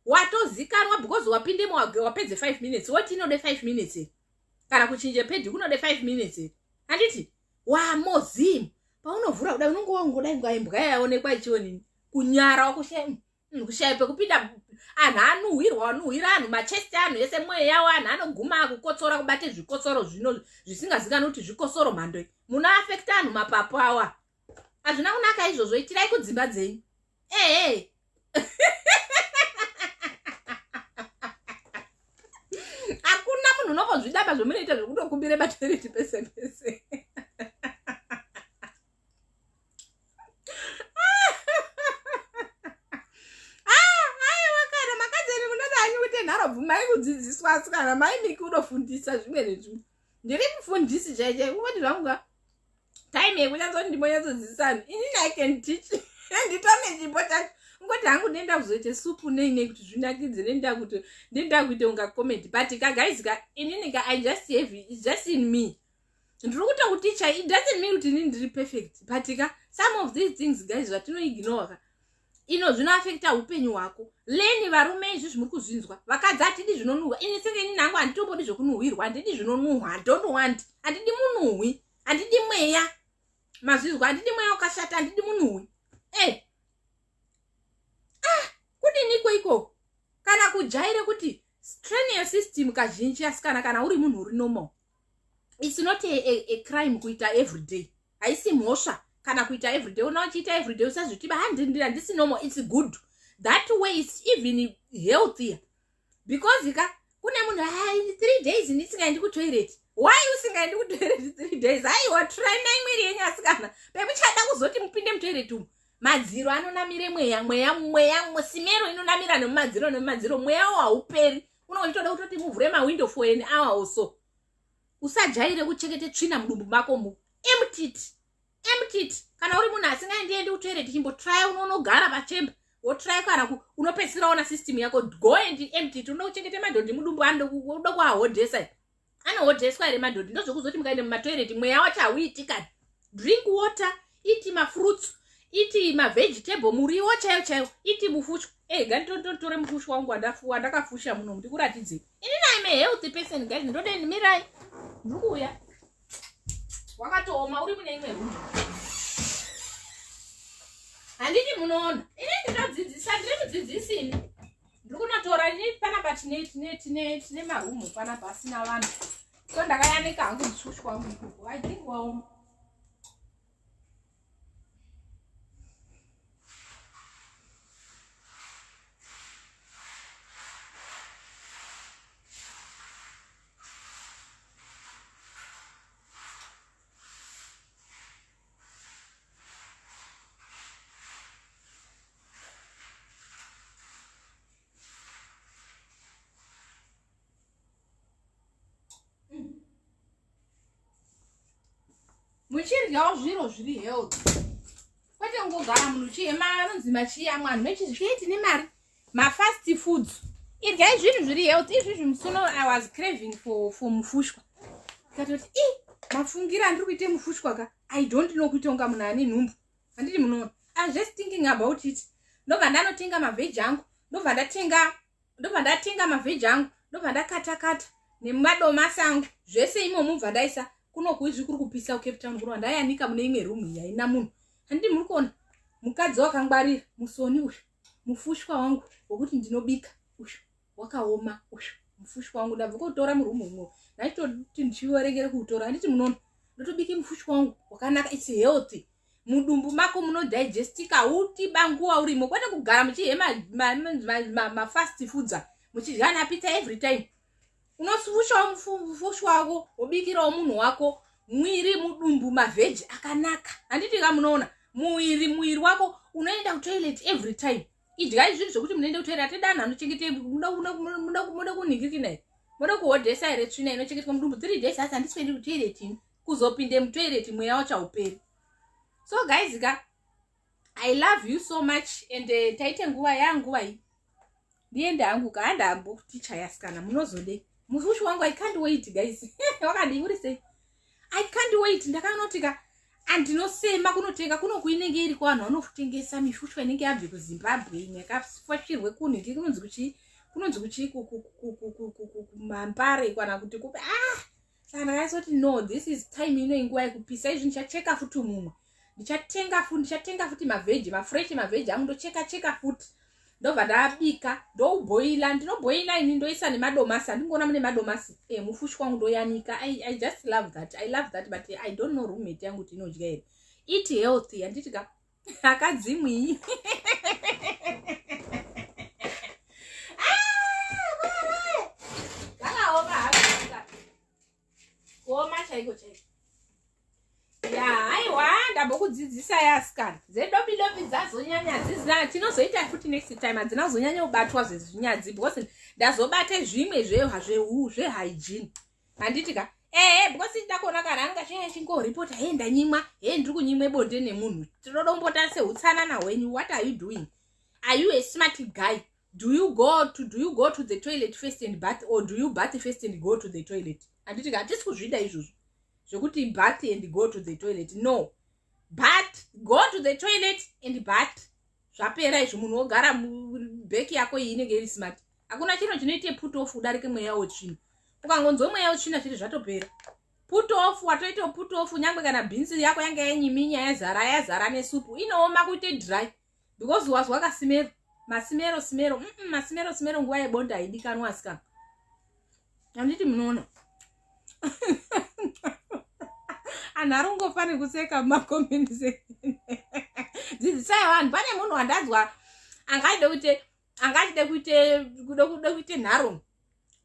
watozikanwa because wapindemo wapedze five minutes woti inode five minutes kana kuchinje pedi kunode five minutes handiti wamozimu paunovhura kudai unonge waungodai ngaimbwa yayaonekwa ichionini kunyara wakushema Mm, kushaya pekupinda anhu anuhwirwa anuhwira anhu machest anhu ese mwoyo yawo anhu anoguma akukotsora kubate zvikotsoro zvino zvisingazikani kuti zvikosoro mhando muno afekta anhu mapapu awa hazvina kunaka izvozvo itirai kudzimba dzenyu ehe hakuna munhu unongozvidamba zvomunoita zvokutokumbire bateriti pese pese mai kudzidziswa asi kana mai miki unofundisa zvimwe nezvimwe ndiri mufundisi chaiche kungoti zvangu ka time yekunyatso ndimonyatsodzidzisa vanhu inini i can teach nditone chimbo chacho ngoti hangu ndenda kuzoita supu nei nei kuti zvinakidze nenda kuti ndenda kuita unga comment but ka guys ka inini ka i just have it just in me ndiri kuita kuti chai it doesn't mean kuti ini ndiri perfect but ka some of these things guys zvatinoignore ka ino zvinoafekta upenyu hwako leni varume izvi zvimuri kuzvinzwa vakadzi hatidi zvinonuhwa ini senge ini nangu handitombodi zvekunuhwirwa handidi zvinonuhwa handont want handidi munuhwi handidi mweya mazvizwa handidi mweya wakashata handidi munuhwi e eh. ah kudini iko iko kana kujaire kuti strain yesystem kazhinji asikana kana uri munhu uri normal it's not a, a, a crime kuita everyday haisi mhosva kana kuita everyday ona wachiita everyday usazvitiba handindira ndisi normal it's good that way it's even healthier because ka kune munhu ah, in three days ndisingaendi kutoilet why usingaendi kutoilet three days haiwa trainai mwiri yenyu asikana pemuchada kuzoti mupinde mutoilet umu madziro anonamire mweya mweya mweya simero inonamira nemumadziro nemumadziro mweyawo hauperi unenge uchitoda kutoti muvhure mawindow for an hour or so usajaire kuchekete tsvina mudumbu mako mu emptit emptit kana uri munhu asingaendiendi kutoiret chimbotraya unonogara pachemba wotraya kana unopedzisira ona system yako go and emptit unoda kuchengete madhondi mudumbu anoda kuahodhesa anohodheswa here madhodhi ndozvekuzoti mukaenda mumatoireti mweya wacho hauitikani drink water iti mafruits iti mavegetable muriwo chaiyo chaiyo iti mufushwa ey eh, gani totore mufushwa wangu wandafuwa ndakafusha muno ndikuratidzei ini nai me healthy person guys ndode ndimirai ndiri kuuya wakatooma uri mune imwe rumu handiti munoona ini ndinodzidzisa ndiri mudzidzisini ndiri kunotora ini panapa tine tine tine tine marumu panapa asina vanhu so ndakayanika hangu ndishushi kwangu ikoko i think waoma muchiryawo zviro zviri health kwete kungogara munhu chihema anonzi machiyamwa anhu mechizvii tine mari mafast foods iryai zvinhu zviri health izvizvi musuno i was craving for, for mufushwa ikatoti i mafungira andiri kuite mufushwa ka i don't know kuita unga munhu ane nhumbu handiti munoona iwas just thinking about it ndobva ndanotenga mavheji angu ndobva ndatenga ndobva ndatenga mavheji angu ndobva ndakatakata nemadomasi angu zvese imomu bva ndaisa kunokuizvi kuri kupisa kucape town kuno ndaianika mune imwe room yaina munhu handiti muri kuona mukadzi wakangwarira musoni uyu mufushwa wangu wekuti ndinobika uyu wakaoma uyu mufushwa wangu ndabva kuutora murumu umo ndaitoti ndichiverengere kuutora handiti munono ndotobike mufushwa wangu wakanaka its healthy mudumbu mako munodigestika utiba nguva urimo kwete kugara muchihemafast foods muchidya napita every time unosvushawo mufushi wako wobikirawo munhu wako mwiri mudumbu mavheji akanaka handiti ka munoona muiri muiri wako unoenda kutoilet every time idyai zvinhu zvekuti munoenda kutoilet atidani anochengetei muda kunhikikina here moda kuhodhesa here tsvina inochengetwa mudumbu three days asi handisvendi kutoilet ini kuzopinde mutoilet mweya wachauperi so guys ka i love you so much and uh, eh, taite nguva yanguva iyi ndiende hangu ka handambo tichaya sikana munozode mufushi wangu i can't wait guys wakadii uri sei i can't wait ndakanotika andinosema kunotenga kunoku inenge iri kwavanhu vanotengesa mishushwa inenge yabve kuzimbabwe imwe yakafashirwe kunhu ndi kunonzi kuchii kunonzi kuchii kumampare kana kuti kupi ah saka ndakanyatoti no this is time ino inguva yekupisa izvi ndichacheka futi mumwe ndichatenga futi ndichatenga futi mavheji mafresh mavheji angu ndocheka cheka futi ndobva ndabika ndouboila ndinoboila ini ndoisa nemadomasi andingoona mune madomasi e mufushi kwangu ndoyanika I, i just love that i love that but i don't know roommate yangu kuti inodya here eat healthy handiti ka akadzimwii kuoma chaiko chaiko ya haiwa ndambokudzidzisai asikana dzedobi dobi dzazonyanya dzizina tinozoita futi next time hadzina kuzonyanya kubatwa zvezvinyadzi because ndazobate zvimwe zvehu zvehygiene handiti ka ehe because ndida kuona kana anga chinge chingoripota hei ndanyimwa hei ndiri kunyimwe bonde nemunhu tinoda kumbotara seutsanana hwenyu what are you doing are you a smart guy do you go to do you go to the toilet first and bath or do you bath first and go to the toilet handiti ka hatisi kuzvida izvozvo zvekuti bath and go to the toilet no but go to the toilet and but zvapera izvo munhu wogara beki yako iyi inenge iri smart hakuna chinhu chinoite put off udarike mweya wetsvina ukangonzwa mweya wetsvina zviri zvatopera put off watoita put off nyangwe kana bhinzi yako yanga yanyiminya yazara yazara nesupu inooma kuite dry because wazwa kasimero masimero simero mm -mm, masimero simero nguva yebonda haidikanwa asikana handiti munoona anhu ari kungofa nekuseka mumakomenti dzidzisai vanhu pane munhu wandanzwa angaide kuti anga achide kuite kude kude kuite nharo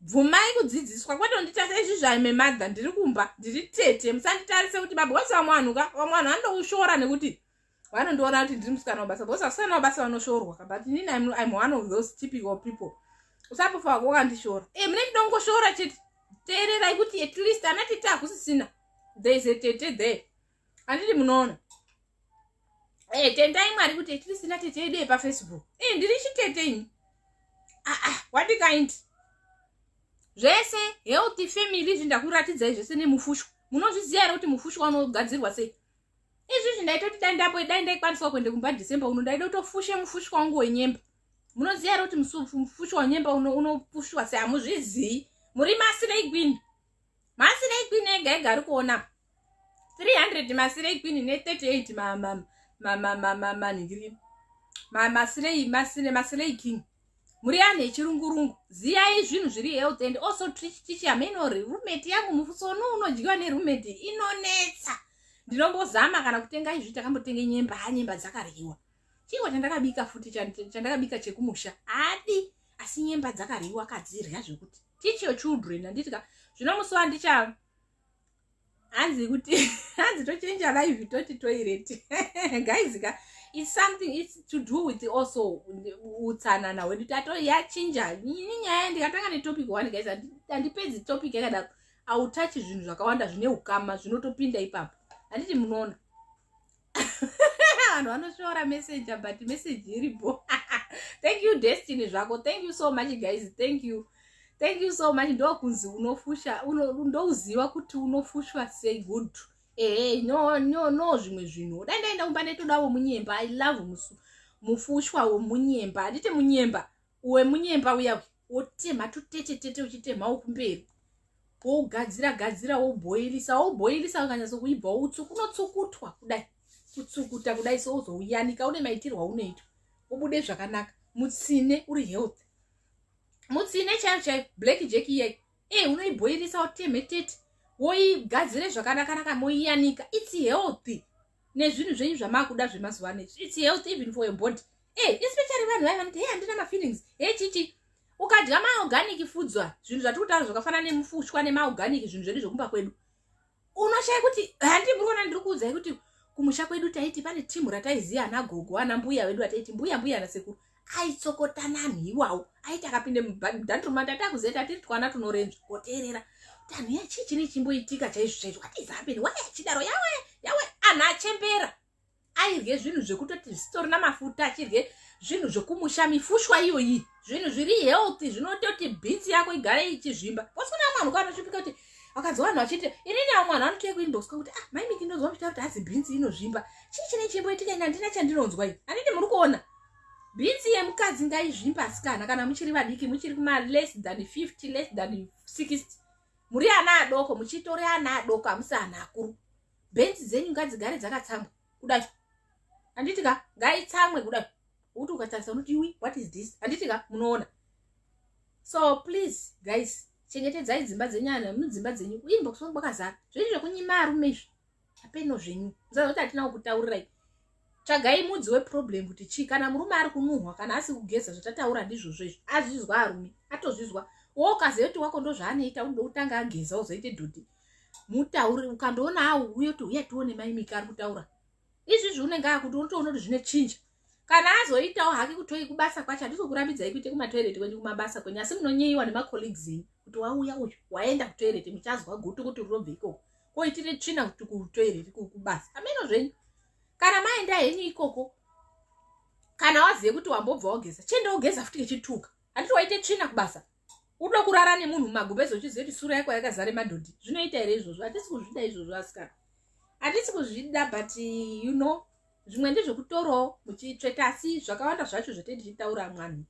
bvumai kudzidziswa kwete unditarisa izvi zvaime madha ndiri kumba ndiri tete musanditarise kuti baba wese vamwe vanhu ka vamwe vanhu vanoushora nekuti vanondiona kuti ndiri musikana wabasa because vasikana wabasa vanoshorwa ka but nini im, im one of those typical people usapofa wako wakandishora e eh, mune ndongoshora chete teererai kuti at least ana tete hakusisina there is a tete there handiti munoona e eh, tendai mwari kuti etirisina tete yedu yepafacebook e eh, ndiri chitete ini aa ah, ah, what kind zvese healthy family izvi ndakuratidzai zvese nemufushwa munozviziva here kuti mufushwa unogadzirwa sei izvizvi ndaitoti dai ndapo dai ndaikwaniswa kuenda kumba december uno ndaida kutofushe mufushwa wangu wenyemba munoziva here kuti mufushwa wenyemba unopushwa sei hamuzvizii muri masinei gwini masinei gwini ega ega ari kuona 300 masirei kwini ne 38 mamama manhiri masirei masire masirei king muri anhu echirungurungu ziyai zvinhu zviri health and also tichiticha menori rumeti yangu musoni unodyiwa nerumeti inonetsa ndinombozama kana kutenga izvi takambotenga nyemba ha nyemba dzakaryiwa chingwa chandakabika futi chandakabika chekumusha adi asi nyemba dzakaryiwa kadzirya zvekuti teach your children handiti ka zvino musi wandicha hanzi kuti hanzi tochenja live toti toilet guys ka it's something it's to do with also utsanana hwedu tato yachinja ini nyaya ndikatanga netopic one guys handipedzi topic yakadaro autachi zvinhu zvakawanda zvine ukama zvinotopinda ipapo handiti munoona vanhu vanosvora messenger but message iripo thank you destiny zvako thank you so much guys thank you thank you so much ndokunzi unofusha ndouziva kuti unofushwa sei good ehe no no no zvimwe zvinhu dai ndaenda kumba ndaitoda womunyemba i love musu mufushwa womunyemba handiti munyemba uwe munyemba uya wotemha tutete tete uchitemha wokumberi wougadzira gadzira wobhoilisa wobhoilisa wakanyatso kuibva woutsu kunotsukutwa kudai kutsukuta kudai so uzouyanika une maitirwo aunoitwa ubude zvakanaka mutsine uri health mutsine chaiyo chaiyo black jack iyai e eh, unoibhoirisa wotemhe tete woigadzire zvakanakanaka moiyanika its healthy nezvinhu zvenyu zvamakuda zvemazuva ano its health even for your body e eh, especially vanhu vai vanoti he handina mafeelings he eh, chichi ukadya maorganic fudzwa zvinhu zvatiri kutaura zvakafanana nemufushwa nemaorganic zvinhu zvedu zvekumba kwedu unoshaya kuti handi muri kuona ndiri kuudzai kuti kumusha kwedu taiti pane timu rataiziva ana gogo ana mbuya vedu vataiti mbuya mbuya ana sekuru aitsokotana anhu iwawo aiti akapinde mudandruma tatakuzeta tiri twana tunorenzva koteerera tanhu yachii chine chimboitika chaizvo chaizvo atizapen wai achidaro yawe yawe anhu achembera airye zvinhu zvekutoti zvitorina mafuta achirye zvinhu zvekumusha mifushwa iyoyi zvinhu zviri healthy zvinototi bhinzi yako igare ichizvimba kosina mwanhu kwanosvipika kuti vakanzi vanhu vachiti inini vamwe vanhu vanotoye kuinbox kwakuti ah maimiki ndonzwa muchita kuti hazi bhinzi inozvimba chii chine chimboitika ini handina chandinonzwa i handiti muri kuona Bhinzi yemukadzi ngaizvimba asikana kana muchiri vadiki muchiri kuma less than 50 less than 60 muri ana adoko muchitori ana adoko amusi ana akuru bhinzi dzenyu ngadzigare dzakatsamwa kudai handiti ka ngaitsamwe kudai kuti ukatarisa unoti iwi what is this handiti ka munoona so please guys chengetedzai dzimba dzenyu ana mudzimba dzenyu inbox kwakazara zvinhu zvekunyima arume izvi apeno zvenyu musazoti hatina kukutaurirai tsvagai mudzi weproblem kuti chii kana murume ari kunuhwa kana asi kugeza zvatataura ndizvozvo izvo azvizwa arume atozvizwa wo ukaziva kuti wako ndozvaanoita unoda kutanga ageza uzoite dhodhi mutauri ukandoona awo uye kuti uye tione maimika ari kutaura izvizvi unenge akuti unotoona kuti zvine chinja kana azoitawo hake kutoi kubasa kwacho handisi kukurambidzai kuite kumatoireti kwenyu kumabasa kwenyu asi munonyeyiwa nemacolleagues enyu kuti wauya uyu waenda kutoireti muchazwa gutu kuti rinobve ikoko koitire tsvina kuti kutoireti kubasa ameno zvenyu kana maenda henyu ikoko kana wazive kuti wambobva wageza chienda wogeza futi kechituka handiti waite tsvina kubasa udo kurara nemunhu mumagubezo uchiziva kuti sura yako yakazare madhodhi zvinoita here izvozvo hatisi kuzvida izvozvo asikana hatisi kuzvida but you know zvimwe ndezvekutorawo muchitsveta asi zvakawanda zvacho zvatee tichitaura mwanhu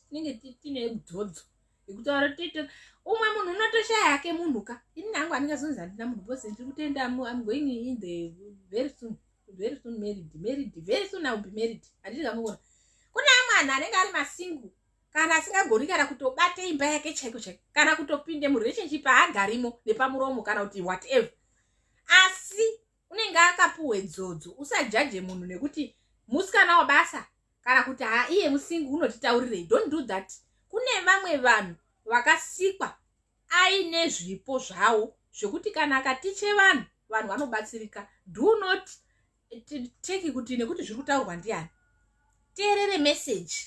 tinenge tine dzodzo yekutaura tite umwe munhu unotoshaya yake munhu ka ini nangu anenge azonzi handina munhu bcause ndiri kutenda am going in the very soon very soon married married very soon iwill be married handiti kamukona kune amwe anhu anenge ari masingu kana asingagoni kana kutobate imba yake chaiko chaiko kana kutopinde murelationship haagarimo nepamuromo kana kuti whatever asi unenge akapuwe dzodzo usajaje munhu nekuti musikana wabasa kana kuti haa iye musingi unotitaurirei don't do that kune vamwe vanhu vakasikwa aine zvipo zvawo zvekuti kana akatiche vanhu vanhu vanobatsirika do not take kuti nekuti zviri kutaurwa ndiani teerere meseji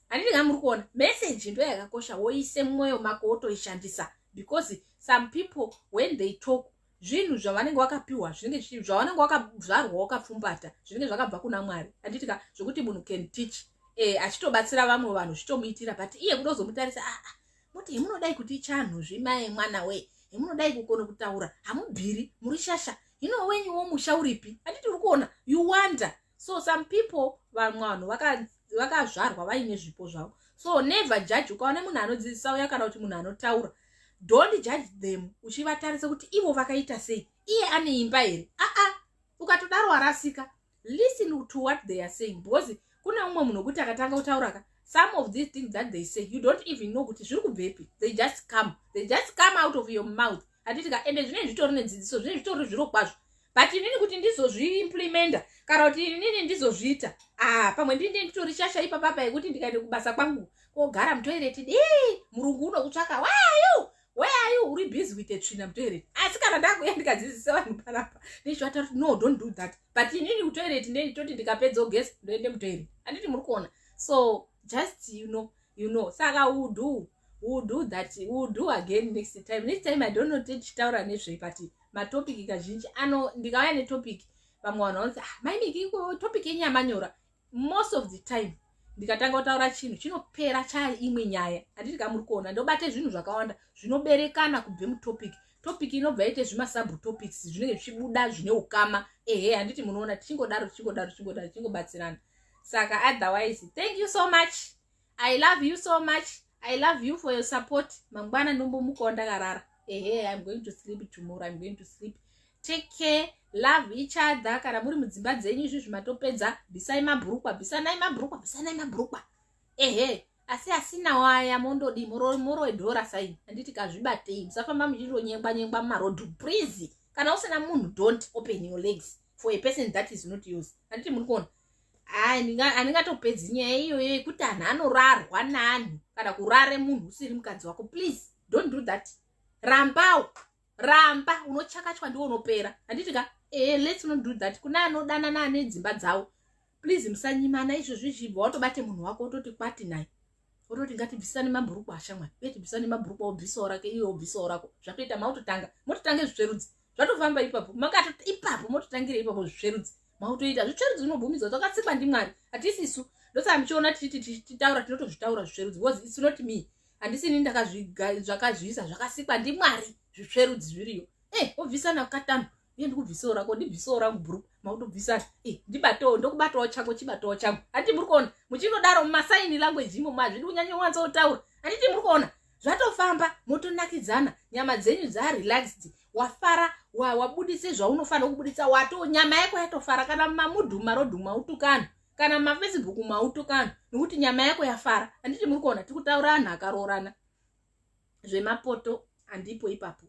handiti nga muri kuona message ndo yakakosha woise mumwoyo mako wotoishandisa because some people when they talk zvinhu zvavanenge wakapiwa zvinenge zvichii zvavanenge wakazvarwa wakapfumbata zvinenge zvakabva kuna mwari handiti ka zvekuti munhu can teach eh, achitobatsira vamwe vanhu zvitomuitira but iye kuda kuzomutarisa aa ah, ah, moti hemunodai kuti chanhu zvimaye mwana we hemunodai kukona kutaura hamubviri muri shasha hino wenyu womusha uripi handiti uri kuona you wonder so some people vamwe vanhu vakazvarwa vaine zvipo zvavo so never judge ukaona munhu anodzidzisa uya kana kuti munhu anotaura don't judge them uchivatarisa kuti ivo vakaita sei iye ane imba here aa ukatodaro warasika listen to what they are saying because kune umwe munhu wekuti akatanga kutauraka some of these things that they say you don't even know kuti zviri kubvepi they just come they just come out of your mouth handiti ka ende zvinei zvitori nedzidziso zvinei zvitori zviro kwazvo but inini kuti ndizozviimplimenta kana kuti inini ndizozviita ah pamwe ndinde nditori shasha ipapapa yekuti ndikaende kubasa kwangu kogara mutoireti dii murungu unokutsvaka wayu weayu uri busy with a tsvina mutoireti asi kana ndakuya ndikadzidzisa vanhu panapa ndichivata kuti no don't do that but inini kutoireti ndeni toti ndikapedza ogesi ndoende mutoireti anditi muri kuona so just you know you know saka will do will do that will do again next time next time i don't know te tichitaura nezvei but matopic kazhinji ano ndikauya netopic vamwe vanhu vanoti ah, maimiki topic yenyama nyora most of the time ndikatanga kutaura chinhu chinopera chaya imwe nyaya handiti kamuri kuona ndobate zvinhu zvakawanda zvinoberekana kubve mutopic topic inobva yaite zvimasub topics zvinenge zvichibuda zvine ukama ehe handiti munoona tichingodaro tichingodaro tichingodaro tichingobatsirana saka otherwise thank you so much i love you so much i love you for your support mangwana ndombomukawo ndakarara ehe im going to sleep tomorrow im going to sleep take care love each other kana muri mudzimba dzenyu izvi zvimatopedza bvisai mabhurukwa bvisanai mabhurukwa bvisanai mabhurukwa ehe asi asina waya mondodii moroe dhora saini handiti kazvibatei musafamba muchindonyengwa nyengwa mumarodhu please kana usina munhu don't open your legs for a person that is not yours handiti muri kuona handingatopedzi nyaya iyoyo yekuti anhu anorarwa nani kana kurare munhu usiri mukadzi wako please don't do that rambawo ramba unochakachwa ndiwo unopera handiti ka e eh, lets not do that kune anodanana ane dzimba dzawo please musanyimana izvo zvichibva watobate munhu wako wototi kwati naye wototi ngatibvisane mabhuruku ashamwari uye tibvisane mabhuruku aobvisawo rake iwe obvisawo rako zvatoita mautotanga mototanga zvitsverudzi zvatofamba ipapo makato ipapo mototangira ipapo zvitsverudzi mautoita zvitsverudzi zvinobvumidzwa dzakatsikwa ndimwari hatisi isu ndosaka muchiona tichiti tichitaura tinotozvitaura zvitsverudzi bcause its not me handisini ndakazvakazviisa zvakasikwa ndimwari zvitsverudzi zviriyo e eh, obvisana katanhu iye ndikubvisawo rako ndibvisawo rangu bhuru makutobvisa eh, ndibatawo ndokubatawo chako chibatawo changu handiti muri kuona muchinodaro mumasaini language imo mazvidi kunyanya wanza otaura handiti muri kuona zvatofamba motonakidzana nyama dzenyu dzarelaxed wafara wabudise zvaunofanira kubudisa wato nyama yako yatofara kana mumamudhu mumarodhu mautukana kana mumafacebook mautukana nekuti nyama yako yafara handiti muri kuona tiri kutaura anhu akaroorana zvemapoto handipo ipapo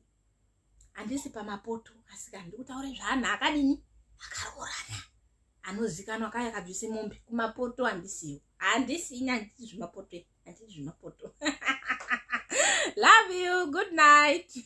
handisi pamapoto asika ndikutaure zvaanhu akadini akaroorana anozikanwa kaya kabvise mombe kumapoto handisiwo handisina handiti zvimapoto handiti zvimapoto love you good night